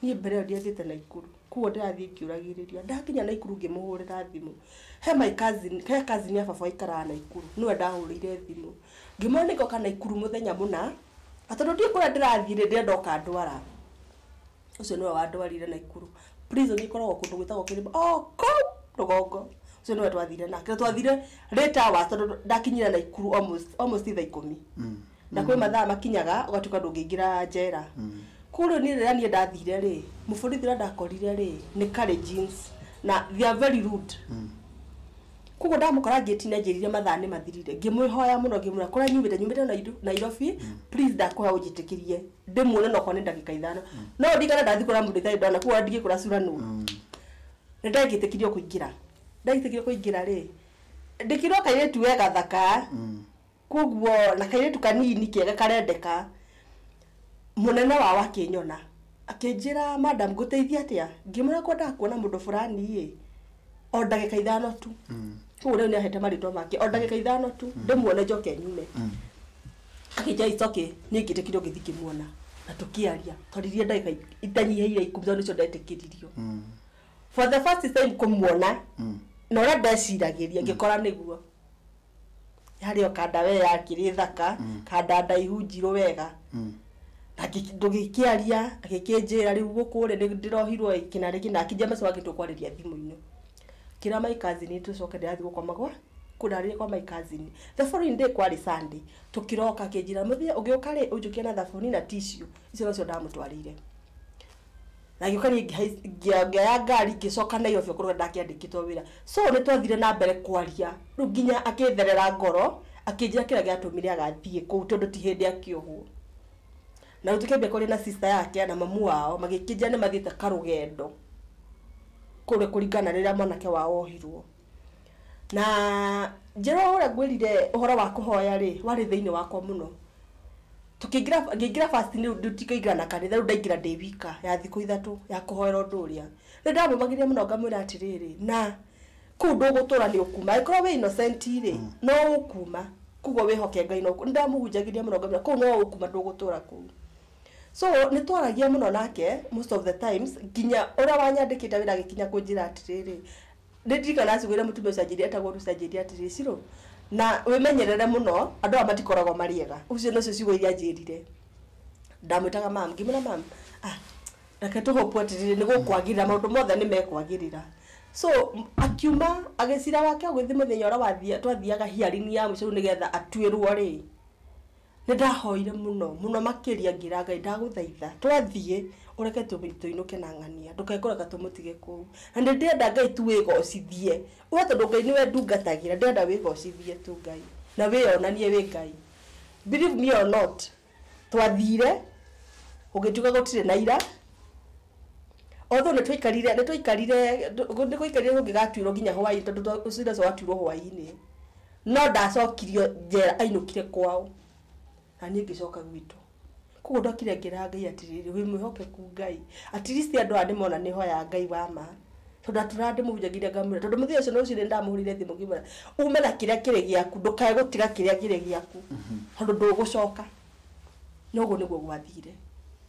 niĩ mbere ĩyo ndiathiĩte Naikuru kuo ndĩrathiĩ ngĩũragĩrĩria ndakinya Naikuru ngĩmũhũrĩra thimũ he my cousin he cousin ya baba aikaraga Naikuru nĩwe ndahũrĩire thimũ ngĩmwĩra nĩ ngoka Naikuru mũthenya mũna na tondũ ndiũĩ kũrĩa ndĩrathiĩ rĩ ndĩrenda oka andwara ũcio nĩwe wandwarire Naikuru prison ĩkoragwo kũndũ gwĩtagwo kĩrĩma o kũu rũgongo ũcio nĩwe twathire nake na twathire late hours tondũ ndakinyire Naikuru almost almost thaa ikũmi. na kwĩ mathaa makinyaga ũgatuĩka ndũngĩingĩra njera. Kũrĩa niĩ rĩrĩa niĩ ndathire rĩ, mũborithi ũrĩa ndakorire rĩ, nĩ karĩ jeans na they are very rude. Kwoguo ndamũkora ngĩti-inĩ anjĩrire mathaa nĩ mathirire, ngĩmwĩhoya mũno ngĩmwĩra kũrĩa nyumĩte nyumĩte Nairu- Nairobi, please ndakũhoya ũnjĩtĩkĩrie ndĩmuone onokorwo nĩ ndagĩka ithano. No ndirikane ndathiĩ kuona mũndũ itarĩ ndona kwoguo ona ndingĩkwĩra cura nũ. Nĩ ndagĩtĩkirio kũingĩra. Ndagĩtĩkirio kũingĩra rĩ, ndĩkĩirwo kairĩtu we gathaka. Koguo na kairĩtu kanini kega karendeka, mũnene wao akĩnyona, akĩnjĩra madam ngũteithie atĩa? Ngĩmwĩra ngwendaga kuona mũndũ fulani ĩ, o ndagĩka ithano tu. Koguo rĩu nĩahete marĩtwa make, o ndagĩka ithano tu, ndĩmuone njoke nyume. Akĩnjĩra it's okay, niĩ ngĩtĩkĩra ũgĩthiĩ ngĩmuona, na tũkĩaria. Twaririe ndagĩka itanyiheire ikũmi tondũ nĩcio ndetĩkĩririo. For the first time kũmuona, na ũrĩa ndeciragĩria ngĩkora nĩguo. yarĩ o kanda we yakĩrĩ thaka Mm. kanda ndaihu njirũ wega Mm. na ngĩ- ndũgĩkĩaria agĩkĩnjĩra rĩu gũkũ rĩ nĩ ndĩrohirwo ĩ, kĩna rĩkĩ na akĩnjia macio wagĩtwo kwarĩria thimũ-inĩ kĩra my cousin tũcoke ndĩrathiĩ gũkoma gwa kũndarĩria kwa my cousin the following day kwarĩ sunday tũkĩroka akĩnjĩra mũthenya ũgĩũka rĩ ũnjũkĩre na thabuni na tissue icio nacio ndamũtwarĩire na ngĩũka niĩ ngĩhai- ngĩa- ngĩoya ngari ngĩcoka na irobi kũrĩa ndakĩandĩkĩtwo wĩra so nĩ twathire na mbere kwaria rĩu nginya akĩtherera ngoro akĩnjĩra kĩrĩa gĩatũmire agathiĩ kũu tondũ ti hĩndĩ akĩohwo na rĩu tũkĩambia kwaria na sister yake na mamu wao magĩkĩnjĩra nĩ mathiĩte karũgendo kũrĩa kũringana na rĩrĩa mwanake wao ohirwo Na Jeroa ũrĩa ngwĩrire ũhoro wa kũhoya rĩ, warĩ thĩinĩ wakwa mũno. Tũkĩingĩra ngĩingĩra first rĩu ndikaingĩra na kanitha, rĩu ndaingĩra ndĩ wika ya thikũ ithatũ ya kũhoera ũndũ ũrĩa. Nĩ ndamũmagĩrĩria mũno ngamwĩra atĩrĩrĩ, na kũu ndũgũtũũra nĩ ũkuuma. Angĩkorwo wĩ innocent rĩ, no ũkuuma. Kwoguo wĩhoke Ngai no ũkuuma. Nĩ ndamũhunjagĩria mũno ngamwĩra kũu no ũkuuma ndũgũtũũra kũu. So nĩ twaragia mũno nake most of the times, nginya ũrĩa wanyandĩkĩte wĩra agĩkinya kũnjĩra atĩrĩrĩ, Nĩ ndirikana acugĩire mũtumia ũcio anjĩrire etagwo Rusi anjĩrire atĩrĩ, Ciro, na wĩmenyerere mũno, andũ aya matikoragwo marĩ ega. Ũcio nĩcio ciugo iria anjĩrire. Ndamwĩtaga ma'am. Ngĩmwĩra ma'am, ah, reke tũ hope atĩrĩrĩ nĩ gũkwagĩrĩra, maũndũ mothe nĩ mekwagĩrĩra. So, akiuma, agĩ cira wake ũgĩthiĩ mũthenya ũrĩa wathiaga twathiaga hearing ya mũico rĩu nĩgetha atuĩrwo-rĩ, Nĩ ndahoire mũno mũno makĩria ngĩra Ngai ndagũthaitha twathiĩ ũreke tũinũke na ng'ania ndũkae kũreka tũmũtige kũu. Na nĩ ndĩrenda Ngai tu wĩgocithie we tondũ Ngai nĩwe ndungatagĩra ndĩrenda wĩgocithie tu Ngai na wĩyonanie wĩ Ngai. Believe me or not twathire gũgĩtuĩka gũtirĩ na ira although nĩ twaikarire nĩ twaikarire nĩ gwaikarire tũngĩgatuĩrwo nginya hwainĩ tondũ cira ũcio watuirwo hwainĩ. No ndacokirio njera ainũkire kwao, na niĩ ngĩcoka gwitũ. Koguo ndokire ngĩra Ngai atĩrĩrĩ, wĩ mwĩhokeku Ngai. At least andũ aya nĩmona nĩhoya Ngai wa ma. Tondũ ndatũraga ndĩmũhunjagia nginya ngamwĩra, tondũ mũthenya ũcio rũcinĩ nĩndamũhũrĩire thimũ ngĩmwĩra, ume na kĩrĩa kĩrĩ gĩaku, ndũkae gũtiga kĩrĩa kĩrĩ gĩaku, tondũ ndũgũcoka. Na ũguo nĩguo gwathire.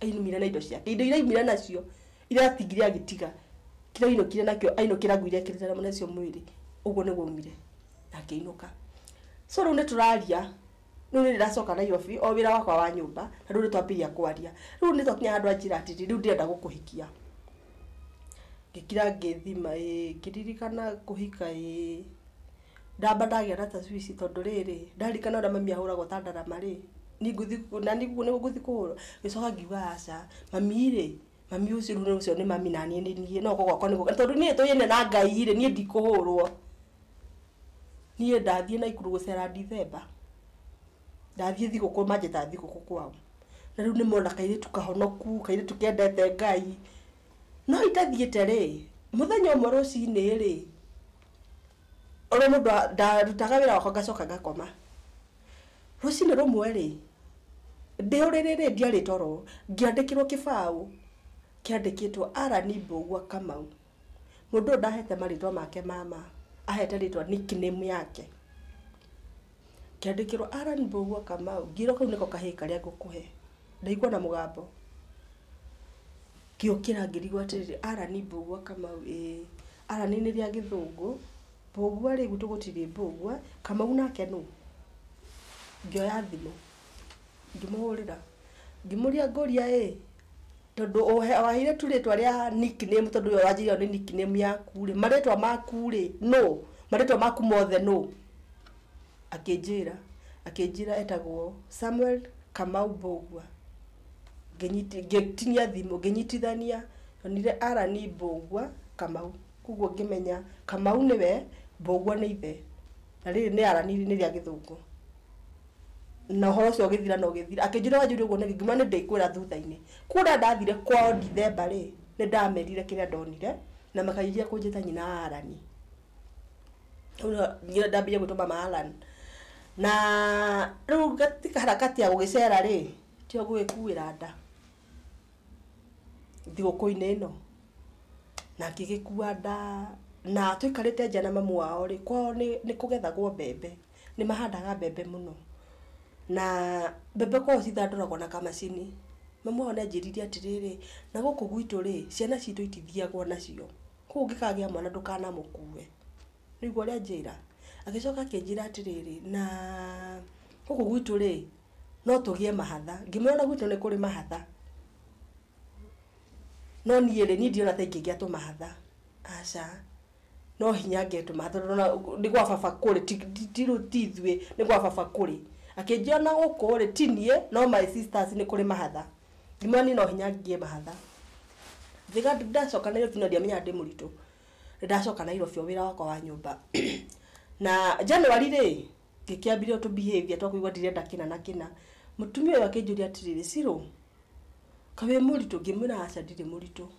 Aimire na indo ciake. Indo iria aimire nacio, Iratigire agĩtiga kĩrĩa ainũkire nakĩo, ainũkĩra ngui iria ekĩrĩte nacio mwĩrĩ, ũguo nĩguo aumire na akĩinũka. So rĩu nĩ tũraria, rĩu nĩ ndĩracoka Nairobi, o wĩra wakwa wa nyũmba, na rĩu nĩ twambĩrĩria kwaria. Rĩu nĩ twakinya handũ anjĩra atĩrĩ, rĩu ndĩrenda gũkũhikia. Ngĩkira ngĩthima ĩĩ, ngĩririkana kũhika ĩĩ. Ndamba ndagĩa na tacwici tondũ rĩrĩ, ndarikana ũrĩa mami ahũragwo ta ndarama rĩ, niĩ ngũthiĩ na niĩ ũguo nĩguo ngũthiĩ kũhũrwo? Ngĩcoka ngiuga aca, mami rĩ, mami ũcio rĩu ũcio nĩ mami na niĩ nĩ niĩ, no gũka gwakwa nĩ gũka. Tondũ niĩ tũine na Ngai rĩ, niĩ ndikũhũrwo. Niĩ ndathiĩ Naikuru gũcera Ndithemba, ndathiĩ thigũkũ manjĩta thigũkũ kwao. Na rĩu nĩ mona kairĩtu kahonoku, kairĩtu kendete Ngai. No itathiĩte rĩ, mũthenya ũmwe rũcinĩ rĩ, Ona mũndũ a- ndarutaga wĩra wakwa ngacoka ngakoma rũcinĩ rũmwe rĩ ndĩ ũrĩrĩ rĩ ndiarĩ toro ngĩandĩkĩrwo kĩbaũ kĩandĩkĩtwo Allan Mbũgua Kamau mũndũ ũyũ ndahete marĩtwa make ma ma ahete rĩtwa nickname yake. Ngĩandĩkĩrwo Allan Mbũgua Kamau, ngĩrwo kau nĩko kahĩĩ karĩa ngũkũhe. Ndaigua ona mũgambo. Ngĩũkĩra ngĩrigwo atĩrĩrĩ, Allan Mbũgua Kamau ĩĩ. Allan nĩ rĩa gĩthũngũ, Mbũgua rĩ, gwitũ gũtirĩ Mbũgua, Kamau nake nũ? Ngĩoya thimũ. Ngĩmũhũrĩra ngĩmũria ngũria ĩ, tondũ waheire tu rĩtwa rĩa nick name tondũ ũyũ wanjĩrĩire ĩyo nĩ nick name yaku rĩ, marĩtwa maku rĩ nũ? Marĩtwa maku mothe nũ? Akĩnjĩra akĩnjĩra etagwo Samuel Kamau Mbũgua. Ngĩnyita ngĩtinia thimũ ngĩnyitithania ndonire Allan Mbũgua Kamau. Kwoguo ngĩmenya Kamau nĩwe, Mbũgua nĩ ithe, na rĩrĩ nĩ Allan nĩ rĩa gĩthũngũ. na ũhoro ũcio ũgĩthira na ũgĩthira. Akĩnjĩra wanjĩrire ũguo nĩkĩ, ngiuma nĩndĩkwĩra thutha-inĩ. Kuona ndathire kwao Ndithemba rĩ, nĩndamerire kĩrĩa ndonire, na makĩanjia kũnjĩta nyina wa Allan. Hau nĩho nginya ndambĩrĩirie gwĩtwo mama Allan. Na rĩu katika harakati ya gũgĩcera rĩ, tĩo ngũgĩkuĩra nda thigũkũ-inĩ ĩno. Na ngĩgĩkua nda, na tũikarĩte nja na mamu wao rĩ, kwao nĩ nĩkũgethagwo mbembe. Nĩ mahandaga mbembe mũno, na mbembe kwao cithandũragwo na kamacini. Mami wao nĩ anjĩrire atĩrĩrĩ, na gũkũ gwitũ rĩ, ciana citũ itithiagwo nacio, kũguo ũngĩkagĩa mwana ndũkanamũkue. Nĩ waigua ũrĩa anjĩra? Agĩcoka akĩnjĩra atĩrĩrĩ, na gũkũ gwitũ rĩ, no tũgĩe mahatha. Ngĩmwĩra ona gwitũ nĩ kũrĩ mahatha, no niĩ rĩ, niĩ ndirona ta ingĩgĩa tũmahatha, aca. no hinya angetũma tondũ na- nĩ gwa baba kũrĩ ti- ti- ti rũ- ti ithuĩ nĩ gwa baba kũrĩ akĩnjia na gũkũ rĩ ti niĩ no my sisters nĩ kũrĩ mahatha ngiuga niĩ no hinya nginye mahatha Ngiuga nĩ ndacoka nairobi na ndiamenyaga ndĩ mũritũ nĩ ndacoka nairobi o wĩra wakwa wa nyũmba na January rĩ ngĩkĩambia tũ behaviour twa kũigua ndirenda kĩna na kĩna mũtumia ũyũ akĩnjũria atĩrĩrĩ Shiro kaĩ wĩ mũritũ ngĩmwĩra aca ndirĩ mũritũ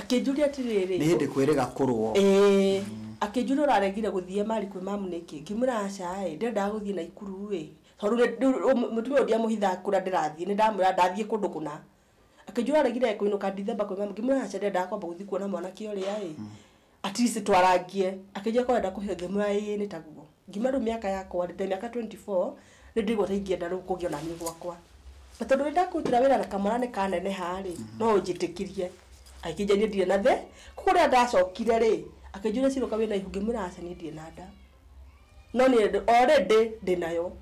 Akĩnjũria atĩrĩrĩ. Nĩ hĩndĩ kwĩrĩga kũrũo. Ĩĩ. Akĩnjũria ũraregire gũthiĩ Mali kwĩ mamu nĩkĩ? Ngĩmwĩra aca-ĩ, ndiendaga gũthiĩ Naikuru-ĩ, tondũ rĩu rĩu mũtumia ũyũ ndiamũhithaga kũrĩa ndĩrathiĩ, nĩndamwĩraga ndathiĩ kũndũ kũna. Akĩnjũria ũraregire kũinũka Ndithemba kwĩ mamu? Ngĩmwĩra aca ndiendaga kwamba gũthiĩ kuona mwanake ũrĩa-ĩ, At least twarangie. Akĩnjĩra korwo arenda kũheo ngĩmwĩra ĩĩ nĩ taguo. Ngiuma rĩu mĩaka yakwa rĩ, ndĩ na mĩaka twenty four, nĩ ndaigua ta ingĩenda rĩu kũgĩa o na niĩ gwakwa. Na tondũ nĩ ndakũrutĩra wĩra na kamwana nĩ kaneneha rĩ, no ũnjĩtĩkirie. Akĩnjĩra niĩ ndirĩ na thĩ, kũguo rĩrĩa ndacokire rĩ, akĩnjũria cira ũka wĩna ihu ngĩmwĩra aca niĩ ndirĩ na nda. No niĩ ndĩ already ndĩ nayo.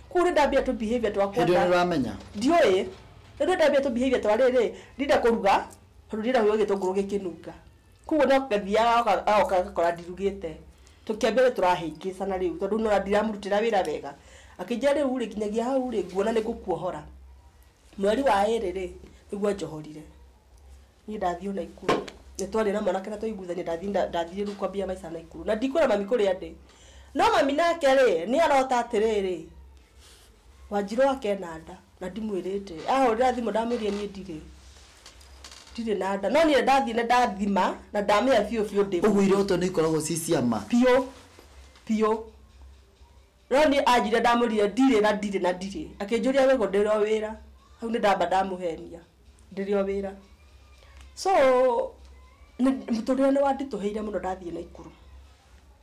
Kũguo nĩ ndambia tũ behaviour twakwa Hĩndĩ ĩyo nĩ ta, ũramenya? ndiũĩ. Rĩu nĩ ndambia tũ behaviour twa rĩrĩ, ndirenda kũruga, tondũ ndirenda kũigua gĩtũngũrũ gĩkĩnunga. Koguo no ngathiaga oka- agoka agakora ndirugĩte tũkĩambia rĩu tũrahĩngĩcana rĩu tondũ nona ndiramũrutĩra wĩra wega akĩnjĩra rĩu rĩ nginyagia hau rĩ nguona nĩ ngũkuohora mweri wa ĩrĩ rĩ nĩguo anjohorire niĩ ndathiĩ o naikuru nĩ twarĩ na mwanake na twaiguithania ndathiĩ nda- ndathiĩ rĩu kwambia maica naikuru na ndikwĩra mami kũrĩa ndĩ no mami nake rĩ nĩ arota atĩrĩrĩ wanjirũ akena nda na ndimwĩrĩte ahũrĩra thimũ ndamwĩrire niĩ ndirĩ ndirĩ na nda no niĩ ndathiĩ na ndathima na ndamenya biũ biũ ndĩ ũguo iroto nĩ ikoragwo ci cia ma biũ biũ no niĩ anjire ndamwĩrire ndirĩ na ndirĩ na ndirĩ akĩnjũria wĩgũ ndĩrĩ o wĩra hau nĩ ndamba ndamũhenia ndĩrĩ o wĩra so nĩ- mũtũrĩre nĩ wanditũhĩire mũno ndathiĩ na ikuru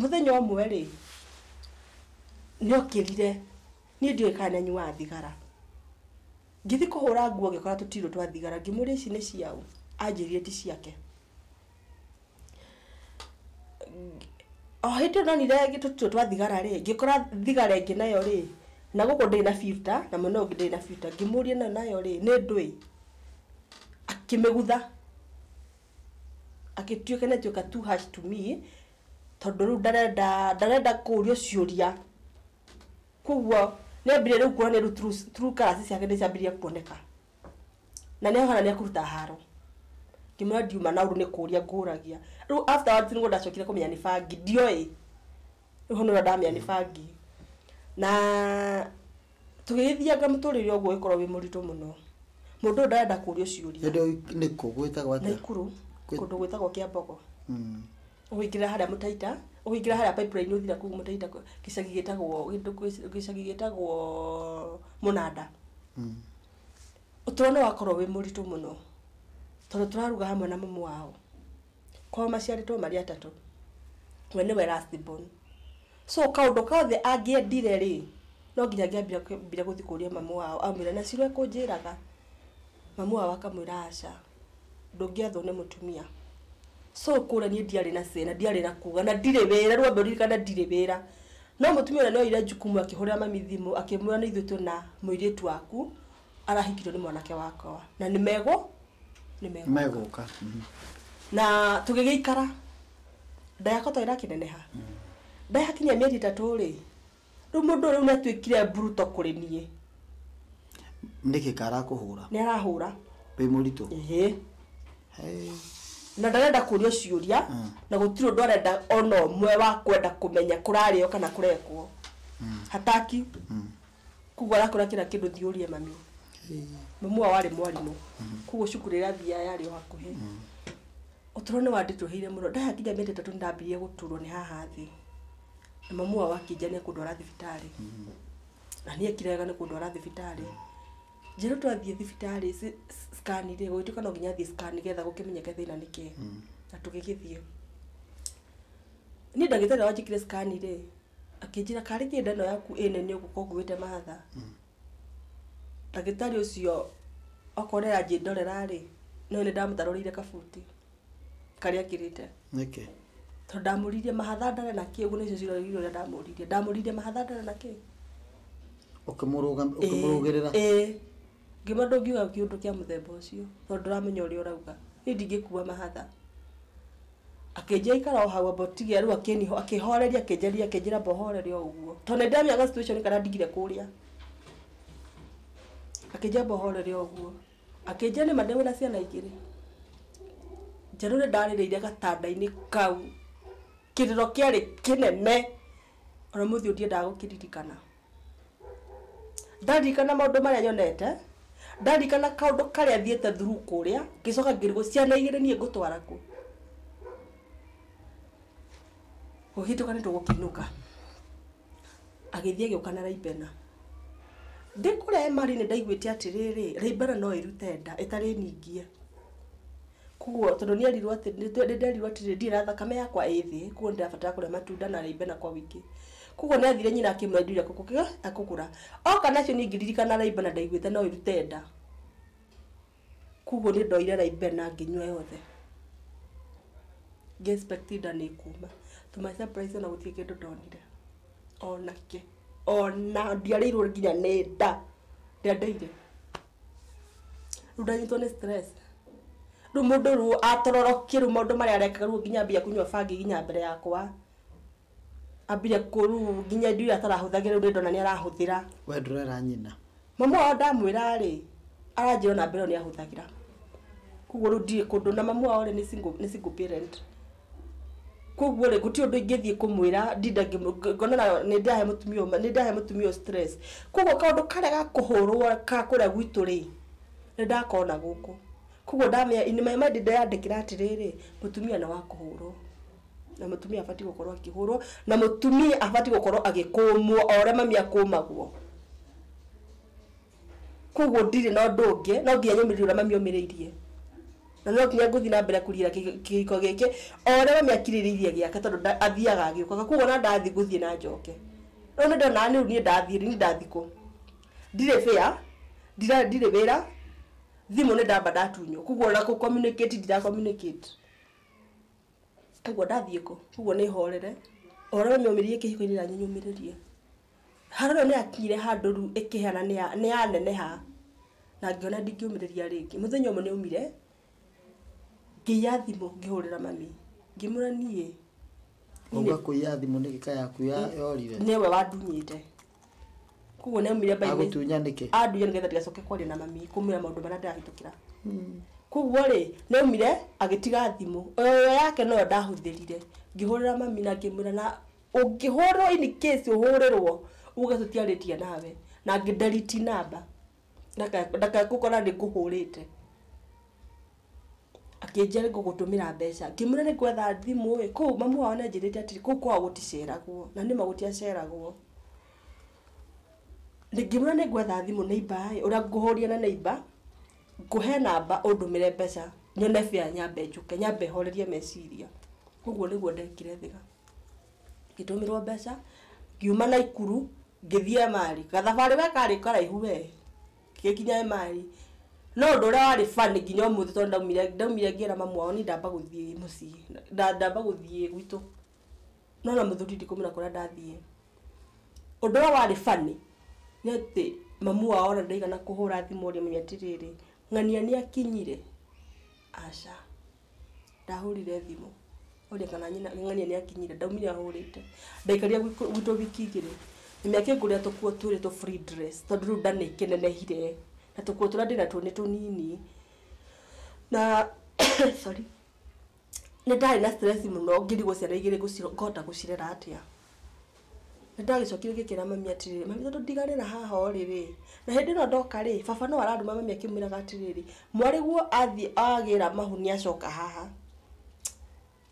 Mũthenya ũmwe-rĩ, nĩokĩrire, niĩ ndiũĩ kana nĩanyuaga thigara. Ngĩthiĩ kũhũra nguo ngĩkora tũtirũ twa thigara, ngĩmũria ici nĩ cia ũ? Anjĩrire ti ciake. O hĩndĩ ĩyo ndonire tũtirũ twa thigara-rĩ, ngĩkora thigara ĩngĩ nayo-rĩ, na gũkũ ndĩrĩ na filter na mwena ũyũ ũngĩ ndĩrĩ na filter. Ngĩmũria ĩno nayo-rĩ, nĩ ndũĩ? Akĩmĩgutha. Agĩtuĩka nĩ atuĩka too harsh to me, tondũ rĩu ndarenda, ndarenda kũrio ciũria. Kwoguo nĩ ambire rĩu kuona nĩ rĩu true true colours ciake nĩ ciambirie kuoneka. Na nĩ hana nĩ ekũruta haro. Ngĩmwĩra ndiuma na ũndũ nĩ kũria ngũragia. Rĩu afterwards nĩ guo ndacokire kũmenya nĩ bangi. Ndioĩ. rĩu hau nĩho ndamenya nĩ bangi na tũgĩgĩthianga mũtũrĩre ũguo ũgĩkorwo wĩ mũritũ mũno mũndũ ũyũ ndarenda kũrio ciũria hĩndĩ ĩyo nĩ kũ gwĩtagwo atĩa naikuru Kwĩ- kũndũ gwĩtagwo kĩa mbogo Mm. ũingĩra harĩa mũtaita ũingĩra harĩa pipeline ũthira kũu mũtaita kũ- gĩcagi gĩtagwo gĩtũ- gĩcagi gĩtagwo mũnanda Mm. ũtũro nĩ wakorwo wĩ mũritũ mũno tondũ tũraruga hamwe na mamu wao kwao maciarĩtwo marĩ atatũ we nĩwe last born so kaũndũ kothe angĩendire rĩ no nginya angĩambire gũthiĩ kũria mamu wao amwĩre na cira ekũnjĩraga mamu wao akamwĩra aca ndũngĩathwo nĩ mũtumia so kũrĩa niĩ ndiarĩ na say na ndiarĩ na kuga na ndirĩ wĩra rĩu ambe ũririkane ndirĩ wĩra no mũtumia ũrĩa nĩoire jukumu akĩhũrĩra mami thimũ akĩmwĩra nĩ ithuĩ twĩna mũirĩtu waku arahikirwo nĩ mwanake wakwa na nĩ megũ nĩ megũ megũka Mhm. na tũgĩgĩikara nda yakwa to ĩrakĩneneha nda yakinyia mĩeri ĩtatũ rĩ rĩu mũndũ ũyũ rĩu nĩ atuĩkire mburuto kũrĩ niĩ nĩkĩ karakũhũra nĩ arahũra wĩ mũritũ ĩhĩ Hey. na ndarenda kũrio ciũria Mm. na gũtirĩ ũndũ arenda ona ũmwe wa kwenda kũmenya kũrarĩo kana kũrekwo hataki Koguo arakora kira kindu thiurie mami. Mamu wao arĩ mwarimũ. Koguo cukuru ĩrĩa athiaga yarĩ o hakuhĩ. Ũtũro nĩ wanditũhĩire mũno. Ndahe nginya mĩeri ĩtatũ nĩ ndambirie gũturwo nĩ haha thĩ. Na mamu wao akĩnjania kũndwara thibitarĩ. Na niĩ ngĩkira wega nĩ kũndwara thibitarĩ. Njerwo twathiĩ thibitarĩ scan rĩ, gũgĩtuĩka no nginya thiĩ scan nĩgetha gũkĩmenyeke thĩna nĩ kĩĩ. Na tũgĩgĩthiĩ. Niĩ ndagĩtarĩ wanjĩkire scan rĩ, akĩnjĩra karĩ kĩnda ĩno yaku ĩ nene ũguo ko nguĩte mahatha ndagĩtarĩ ũcio okorwo nĩaranjĩndorera rĩ no nĩ ndamũtarũrĩire kabuti karĩa ekĩrĩte nĩkĩ tondũ ndamũririe mahatha ndare na kĩ ũguo nĩcio cirorire ũrĩa ndamũririe ndamũririe mahatha ndare na kĩ ũkĩmũrũga- ũkĩmũrũgĩrĩra Ĩĩ, ĩĩ. Ngiuga ndũngiuga kĩũndũ kĩa mũthemba ũcio tondũ ndũramenya ũrĩa ũrauga. Niĩ ndingĩkua mahatha. Akĩnjĩra ikara o hau amba ũtige rĩu akĩni akĩhoreria akĩnjarĩria akĩnjĩra amba ũhorere o ũguo. To nĩndĩramenya ga situation karĩa ndigire kũrĩa. Akĩnjĩra amba ũhorere o ũguo. Akĩnjĩra nĩma ndĩ wĩna ciana igĩrĩ. Njaru nĩndarĩrĩire gatanda-inĩ kau. Kĩrĩro kĩarĩ kĩnene. Ona ũmũthĩ ũyũ ndiendaga gũkĩririkana. Ndarikana maũndũ marĩa nyonete, ndarikana kaũndũ karĩa thiĩte through kũrĩa, ngĩcoka ngĩrigwo ciana igĩrĩ niĩ ngũtwara kũ? Ũhĩtũka nĩ tũgũkĩinũka. Agĩthiĩ agĩũka na Laibena. Ndĩ kũrĩa hema-rĩ, nĩ ndaiguĩte atĩrĩrĩ, Laibena no ĩrute nda ĩtarĩ ningie. Koguo tondũ nĩ erirwo atĩ, nĩ nderirwo atĩrĩ, ndirĩ na thakame yakwa ĩ thĩ, koguo nĩ ndĩrabatara kũrĩa matunda na rĩimbe na kwa wĩingĩ. Koguo nĩ athire nyina akĩmũra indo iria ekũgũra. Oka nacio niĩ ngĩririkana rĩimbe na ndaiguĩte no ĩrute nda. Koguo nĩ ndoire rĩimbe na ngĩnyua yothe. Ngĩ expect nda nĩ ĩkuuma. To my surprise o na gũtirĩ kĩndũ ndonire. O na kĩ. O na ndiarĩirwo nginya nĩ nda. Ndeedeire. rĩu ndanyitwo nĩ stress rĩu mũndũ rĩu atororokie rĩu maũndũ marĩa arekaga rĩu nginya ambia kũnyua bangi nginya mbere yakwa ambire kũru nginya indo iria atarahũthagĩra rĩu ndona nĩ arahũthĩra we ndũrera nyina mamu wao ndamwĩra rĩ aranjĩra ona mbere ĩyo nĩ ahũthagĩra koguo rĩu ndirĩ kũndũ na mamu wao rĩ nĩ single parent koguo rĩ gũtirĩ ũndũ ingĩthiĩ kũmwĩra ndinda ngĩmũ- ngonana nĩ ndahe mũtumia ũyũ- nĩ ndahe mũtumia ũyũ stress koguo kaũndũ karĩa ga kũhũrwo ka kũrĩa gwitũ rĩ nĩ ndakona gũkũ koguo ndamenya in my mind ndeyandĩkĩra atĩrĩrĩ mũtumia nĩ wa kũhũrwo na mũtumia abatiĩ gũkorwo akĩhũrwo na mũtumia abatiĩ gũkorwo agĩkũmwo o ũrĩa mami akũmagwo. koguo ndirĩ na ũndũ ũngĩ no nginya nyũmĩrĩrie ũrĩa mami omĩrĩirie na no nginya ngũthiĩ na mbere kũrira kĩ- kĩhiko gĩkĩ o ũrĩa mami akirĩrĩirie gĩake tondũ nda- athiaga agĩũkaga koguo ona ndathiĩ ngũthiĩ na njoke rĩu nĩ ndona rĩu niĩ ndathiĩ rĩ, niĩ ndathikwo ndirĩ bĩa ndira- ndirĩ wĩra thimũ nĩ ndamba ndatunywo koguo ona kũ communicate ndira communicate koguo ndathiĩ kũ koguo nĩ horere o ũrĩa mami omĩrĩirie kĩhiko-inĩ nanyi nyũmĩrĩrie Harũni nĩ akinyire handũ rĩu ĩkĩhana nĩ ya neneha na ngĩona ndingĩũmĩrĩria rĩngĩ. Mũthenya ũmwe nĩ aumire ngĩiya thimũ ngĩhũrĩra mami ngĩmwĩra niĩ. Wauga kũiya thimũ nĩ gĩka yaku yorire? Nĩ we wandunyĩte. Koguo nĩ aumire mbainĩ. Agũtunya nĩkĩ? Andunya nĩgetha ndigacoke kwaria na mami kũmwĩra maũndũ marĩa ndĩrahĩtũkĩra. Koguo rĩ nĩ aumire agĩtiga thimũ. O ĩyo yake noyo ndahũthĩrire ngĩhũrĩra mami na ngĩmwĩra na Ũngĩhũrĩrwo in case ũhũrĩrwo uge tũtiarĩtie nawe na ngĩ delete number ndaka- ndakagũkora nĩ ngũhũrĩte akĩnjia nĩ ngũgũtũmĩra mbeca ngĩmwĩra nĩ ngwetha thimũ ĩ kũu mamu wao nĩ anjĩrĩte atĩrĩ kũu kwao gũticeragwo na nĩma gũtiaceragwo ngĩmwĩra nĩ ngwetha thimũ neighbor ĩ ũrĩa ngũhũrire na neighbor ngũhe namba ũndũmĩre mbeca nyone fare nyambe njũke nyambe horerie meciria ũguo nĩguo ndekire thĩra. ngĩtũmĩrwo mbeca ngiuma Naikuru ngĩthiĩ Emali, gathabarĩ we karĩ karaihu we, ngĩgĩkinya Emali, no ũndũ ũrĩa warĩ funny nginya ũmũthĩ tondũ ndaumire ndaumire ngĩra mamu wao niĩ ndamba gũthiĩ mũciĩ nda ndamba gũthiĩ gwitũ, no ona mũthuri ndikũmenya kũrĩa ndathiĩ, ũndũ ũrĩa warĩ funny nĩ atĩ mamu wao ona ndaigana kũhũra thimũ ũrĩa amenye atĩrĩrĩ ng'ania nĩakinyire. Aca, ndahũrire thimũ oria kana nyina ng'ania nĩ akinyire ndaumire ahũrĩte ndaikarire gwitũ wiki igĩrĩ na nĩ akĩngũrĩra tũkuo twĩrĩ tũ free dress tondũ rĩu nda nĩ ĩkĩnenehire na tũkuo tũrĩa ndĩ natuo nĩ tũnini na sorry nĩ ndarĩ na stress mũno ngĩrigwo ciana igĩrĩ ngũhota gũcirera atĩa. Nĩ ndagĩcokire ngĩkĩra mami atĩrĩrĩ, mami tondũ ndiganĩra haha ũrĩ rĩ, na hĩndĩ ĩno ndoka rĩ, baba no arandũma mami akĩmwĩraga atĩrĩrĩ, mwarĩguo athiĩ agĩra mahu nĩ acoka haha.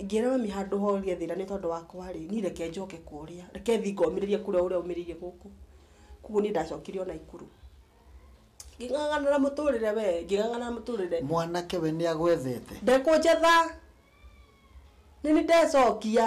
Ngĩra mami handũ horia thĩna nĩ tondũ wakwa rĩ, niĩ reke njoke kũrĩa, reke thiĩ ngomĩrĩrie kũrĩa ũrĩa aumĩrĩire gũkũ. Kũguo niĩ ndacokire o Naikuru. Ngĩng'ang'ana na mũtũrĩre we, ngĩng'ang'ana na mũtũrĩre. Mwanake we nĩ agwethete? Ndekũnjetha. Nĩ niĩ ndecokia.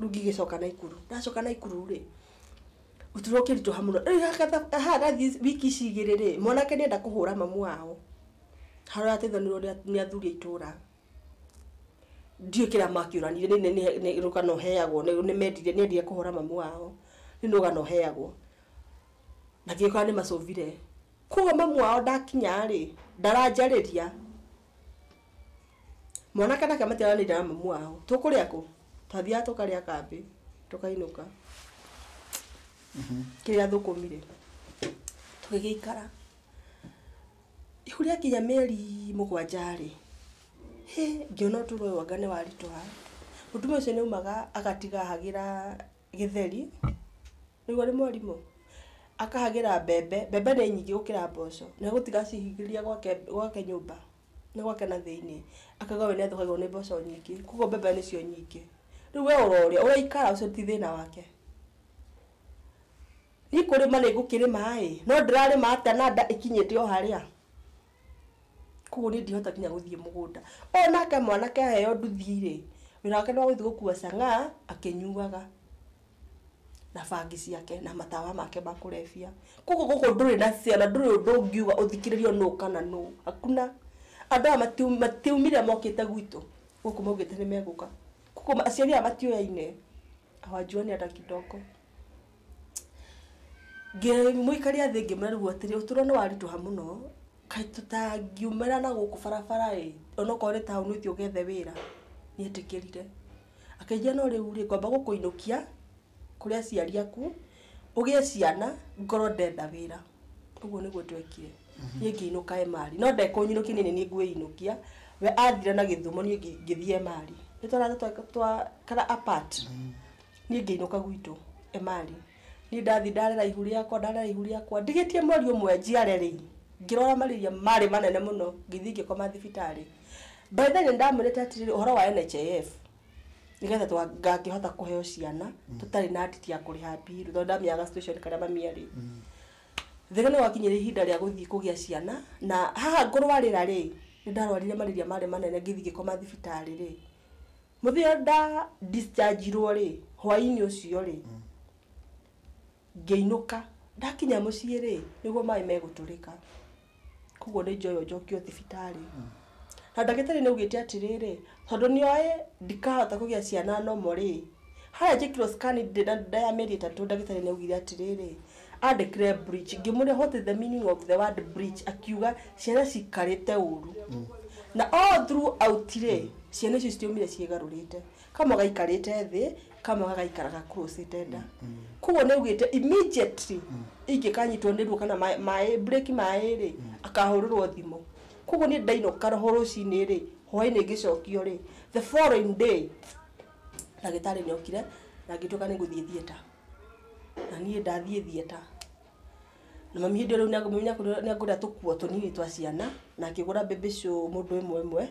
rĩu ngigĩcoka naikuru ndacoka naikuru rĩ ũtũro ũkĩritũha mũno rĩu hakatha- harathiĩ wiki ici igĩrĩ rĩ mwanake nĩ enda kũhũra mamu wao harateithanĩrĩrwo nĩ a- nĩ athuri a itũra ndiũĩ kĩrĩa makĩũranire nĩ- nĩ- nĩ rũgano heagwo nĩ nĩ mendire nĩ endire kũhũra mamu wao rĩu nĩ rũgano heagwo na ndiũĩ kana nĩ macũbire koguo mamu wao ndakinya rĩ ndaranjarĩria Mwanake nake matiaranĩire na mamu wao. Tũkũrĩa kũ? Twathiaga tũkarĩa kambĩ, tũkainũka. Kĩrĩa thũkũmire. Tũgĩgĩikara. Rĩu rĩakinya mĩeri mũgwanja-rĩ, hĩ, ngĩona ũtũro ũyũ anga nĩwaritũha. Mũtumia ũcio nĩaumaga agatiga ahagĩra gĩtheri, nĩũĩ nĩ morimũ? Akahagĩra mbembe, mbembe nĩ nyingĩ gũkĩra mboco, nĩegũtiga acihingĩrĩria gwake nyũmba. nĩ gwake na thĩinĩ akauga we nĩ athũkagĩrwo nĩ mboco nyingĩ koguo mbembe nĩcio nyingĩ rĩu we ũrorĩa ũraikara ũcio ti thĩna wake niĩ kũrĩma nĩ ngũkĩrĩma ĩ no ndĩrarĩma atĩa na nda ĩkinyĩte o harĩa koguo niĩ ndihota nginya gũthiĩ mũgũnda ũyũ nake mwanake aheo nduthi rĩ wĩra wake nĩ wa gũthiĩ gũkua cang'aa akĩnyuaga na bangi ciake na matawa make ma kũrebia. Kũguo gũkũ ndũrĩ na say ona ndũrĩ ũndũ ũngiuga ũthikĩrĩrio nũ kana nũ. Hakuna. Andũ aya matiaumire mokĩte gwitũ, gũkũ maugĩte nĩ megũka. Kũguo aciari aya matioyaine, hawajuani hata kidogo. Mũikaria thĩ ngĩmwĩra rĩu atĩrĩ, ũtũro nĩ waritũha mũno, kaĩ tũtangiumĩra na gũkũ barabara ĩ, onokorwo nĩ taũni ũthiĩ ũgethe wĩra, nĩ etĩkĩrire. Akĩnjĩra, No rĩu-rĩ, ngwamba gũkũinũkia kũrĩ aciari aku, ũgĩe ciana, ngorwo ndenda wĩra. Ũguo nĩguo twekire. Niĩ ngĩinũka Emali. No ndekũnyinũkia niĩ nĩ niĩ ngwĩinũkia. We athire na Gĩthumo niĩ ngĩthiĩ Emali. Nĩ twarathiĩ twaikara apart. Niĩ ngĩinũka gwitũ Emali. Niĩ ndathiĩ ndarera ihu rĩakwa, ndarera ihu rĩakwa. Ndigĩtie mweri ũmwe njiare-rĩ, ngĩrwara marĩria marĩ manene mũno, ngĩthiĩ ngĩkoma thibitarĩ. By the way nĩ ndamwĩrĩte atĩrĩrĩ ũhoro wa NHIF nĩgetha twa- ngangĩhota kũheo ciana tũtarĩ na nditi ya kũrĩha mbiru tondũ ndamenyaga situation karĩa mami arĩ thĩna nĩ gwakinyire ihinda rĩa gũthiĩ kũgĩa ciana na haha ngũrwarĩra rĩ nĩ ndarwarire marĩria marĩ manene ngĩthiĩ ngĩkoma thibitarĩ rĩ mũthenya ũrĩa nda dischargirwo rĩ hwainĩ ũcio rĩ ngĩinũka ndakinya mũciĩ rĩ nĩguo maĩ megũtũrĩka koguo nĩ njoyo njokio thibitarĩ na ndagĩtarĩ nĩ augĩte atĩrĩrĩ tondũ nĩ oĩ ndikahota kũgĩa ciana normal rĩ harĩa njĩkirwo scan ndĩ na nda ya mĩeri ĩtatũ ndagĩtarĩ nĩ augire atĩrĩrĩ andĩkĩre bleach ngĩmũria what is the meaning of the word bleach akiuga ciana cikarĩte ũru na all through out rĩ ciana icio citiaumire ciĩgarũrĩte. kamwe gaikarĩte thĩ kamwe gagaikara ga crossed nda koguo nĩ augĩte immediately ingĩkanyitwo nĩ ruo kana maĩ- maĩ break maĩ rĩ akahũrĩrwo thimũ koguo niĩ ndainũka ho rũcinĩ rĩ hwainĩ ngĩcokio rĩ the following day ndagĩtarĩ nĩ okire na ngĩtuĩka nĩ ngũthiĩ theatre na niĩ ndathiĩ theatre Na mami hĩndĩ ĩyo rĩu nĩagũ- mami nĩagũrire nĩagũrire tũkuo tũnini twa ciana, na akĩgũra mbĩmbĩ icio mũndũ ĩmwe ĩmwe,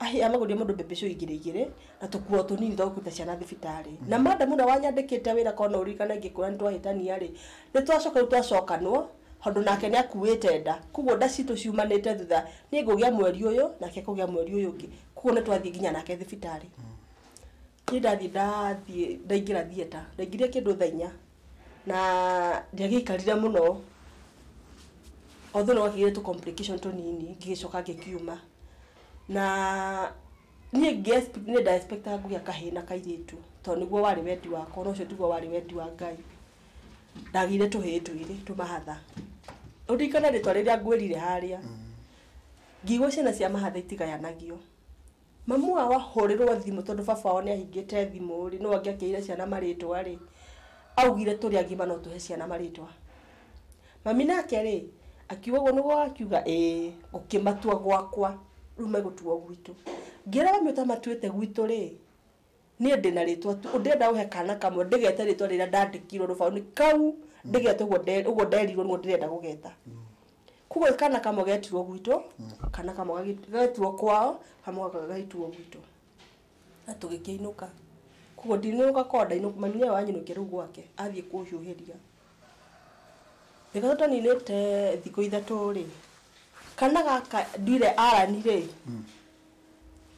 ahĩ amagũrire mũndũ mbĩmbĩ icio igĩrĩ igĩrĩ, na tũkuo tũnini twa gũkuĩte ciana thibitarĩ. Na madam ũrĩa wanyandĩkĩte wĩra korwo no ũririkane ingĩkwĩra nĩtwahĩtania-rĩ, nĩtwacoka rĩu twacokanwo, tondũ nake nĩakuĩte nda, kuoguo nda citũ ciumanĩte thutha, niĩ ngũgĩa mweri ũyũ, nake kũgĩa mweri ũyũ ũngĩ, kuoguo nĩtwathiĩ nginya nake thibitarĩ. Niĩ ndathiĩ ndathiĩ ndaingĩra theatre, ndaingĩrire kĩndũ thaa inya, na ndiagĩikarire mũno although nĩ gwakĩgĩire tũ complication tũnini ngĩgĩcoka ngĩkiuma na niĩ nĩ nda expect aga kũgĩa kahĩĩ na kairĩtu tondũ nĩguo warĩ wendi wakwa na ũcio tiguo warĩ wendi wa Ngai, ndagĩire tũhĩĩ twĩrĩ tũmahatha, ũndirikane rĩtwa rĩrĩa ngwĩrire harĩa, ngiuga ciana cia mahatha itigayanagio. Mamu wao ahũrĩrwo thimũ tondũ baba wao nĩahingĩte thimũ-rĩ, nũũ angĩakĩire ciana marĩtwa-rĩ, augire tũrĩ agima no tũhe ciana marĩtwa. Mami nake-rĩ, akiuga ũguo nĩguo akiuga ĩĩ, ngũkĩmatua gwakwa, rĩu megũtuo gwitũ. Ngĩra mami ũtamatuĩte gwitũ-rĩ, Niĩ ndĩ na rĩĩtwa tu, ndĩrenda ũhe kaana kamwe ndĩgete rĩĩtwa rĩrĩa ndandĩkirwo rũbaũ-inĩ kau, ndĩgete ũguo nde- ũguo nderirwo nĩguo ndĩrenda gũgeta. Kwoguo kaana kamwe getirwo gwitũ, kaana kamwe gagĩ- getirwo kwao, kamwe gaka gagĩtuo gwitũ. Na tũgĩkĩinũka. Kwoguo ndinũka kwao ndainũka mami nĩwe wanyinũkia rĩu gwake, athiĩ kũhiũhĩria. Rĩrĩa tũtaninĩte thikũ ithatũ-rĩ, kaana gaka nduire Allan-rĩ,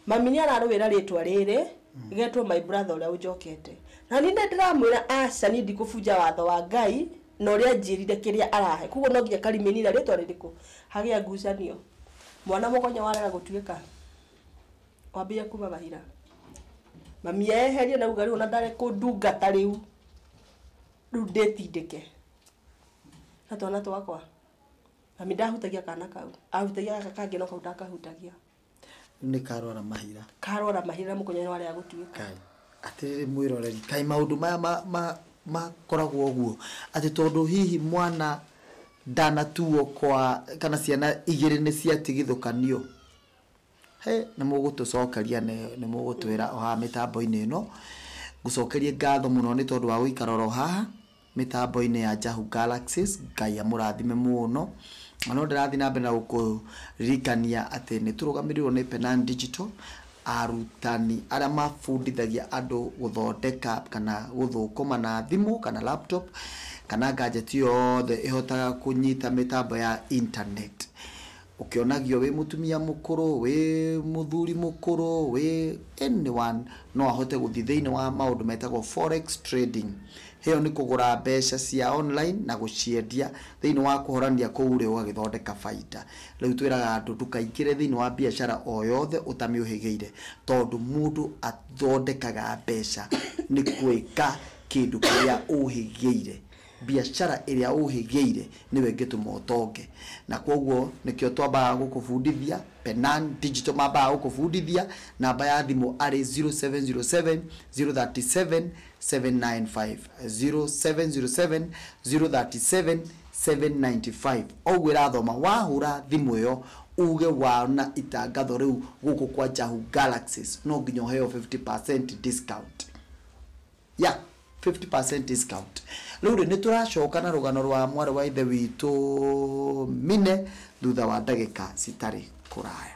Mami nĩ ararũĩra rĩtwa rĩrĩ getwo my brother ũrĩa ũnjokete. Na niĩ nĩ ndĩramwĩra aca niĩ ndikũbunja watho wa Ngai na ũrĩa anjĩrire kĩrĩa arahe. Kwoguo no nginya karĩmĩni na rĩtwa rĩrĩkũ. Hagĩa ngucanio. Mwana mũgonyo warega gũtuĩka. Wambĩrĩria kuma mahira. Mami eherio nauga rĩu ona ndekũndungata rĩu. Rĩu ndĩtindĩke. Na twana twakwa. Mami ndahutagia kana kau. Ahutagia gaka kangĩ no kau ndakahutagia. Rĩu nĩ karwara mahira. Karwara mahira na mũkonyo warĩa gũtuĩka. Kai. Atĩrĩrĩ mwĩroreri, kai maũndũ maya ma ma makoragwo ũguo atĩ tondũ hihi mwana ndanatuo kwa kana ciana igĩrĩ nĩ ciatigithũkanio Hĩ, nĩ mũgũtũcokeria nĩ nĩ mũgũtwĩra o haha mĩtambo-inĩ ĩno. Ngũcokerie ngatho mũno nĩ tondũ wa gũikara oro haha mĩtambo-inĩ ya Jahu Galaxies. Ngai amũrathime mũno. Na no ndĩrathiĩ na mbere na gũkũririkania atĩ nĩ tũrũgamĩrĩirwo nĩ Penang Digital, arutani arĩa mabundithagia andũ gũthondeka kana gũthũkũma na thimũ kana laptop, kana gadget yothe ĩhotaga kũnyita mĩtambo ya internet. Ũkĩonagio wĩ mũtumia mũkũrũ, wĩ mũthuri mũkũrũ, wĩ any one no ahote gũthiĩ thĩinĩ wa maũndũ metagwo forex trading. Ĩyo nĩ kũgũra mbeca cia online na gũciendia thĩinĩ wa kũhorania kũu rĩ ũgagĩthondeka bainda. Rĩu twĩraga andũ ndũkaingĩre thĩinĩ wa biacara o yothe ũtamĩũhĩgĩire tondũ mũndũ athondekaga mbeca nĩ gwĩka kĩndũ kĩrĩa ũhĩgĩire. Biacara ĩrĩa ũhĩgĩire nĩwe ĩngĩtũma ũtonge. Na kwoguo nĩkĩo twambaga gũkũbundithia, Penan Digital mambaga gũkũbundithia, namba ya thimũ arĩ 0707037795, 0707037795. O ũguo ĩrathoma, wahũra thimũ ĩyo uge wona itangatho rĩu gũkũ kwa Jahu Galaxies, no nginya ũheo 50% discount. Ya, 50 percent discount. Rĩu rĩ, nĩ tũracoka na rũgano rwa mwarĩ wa Ithe witũ Mine thutha wa ndagĩka citarĩ kũraya.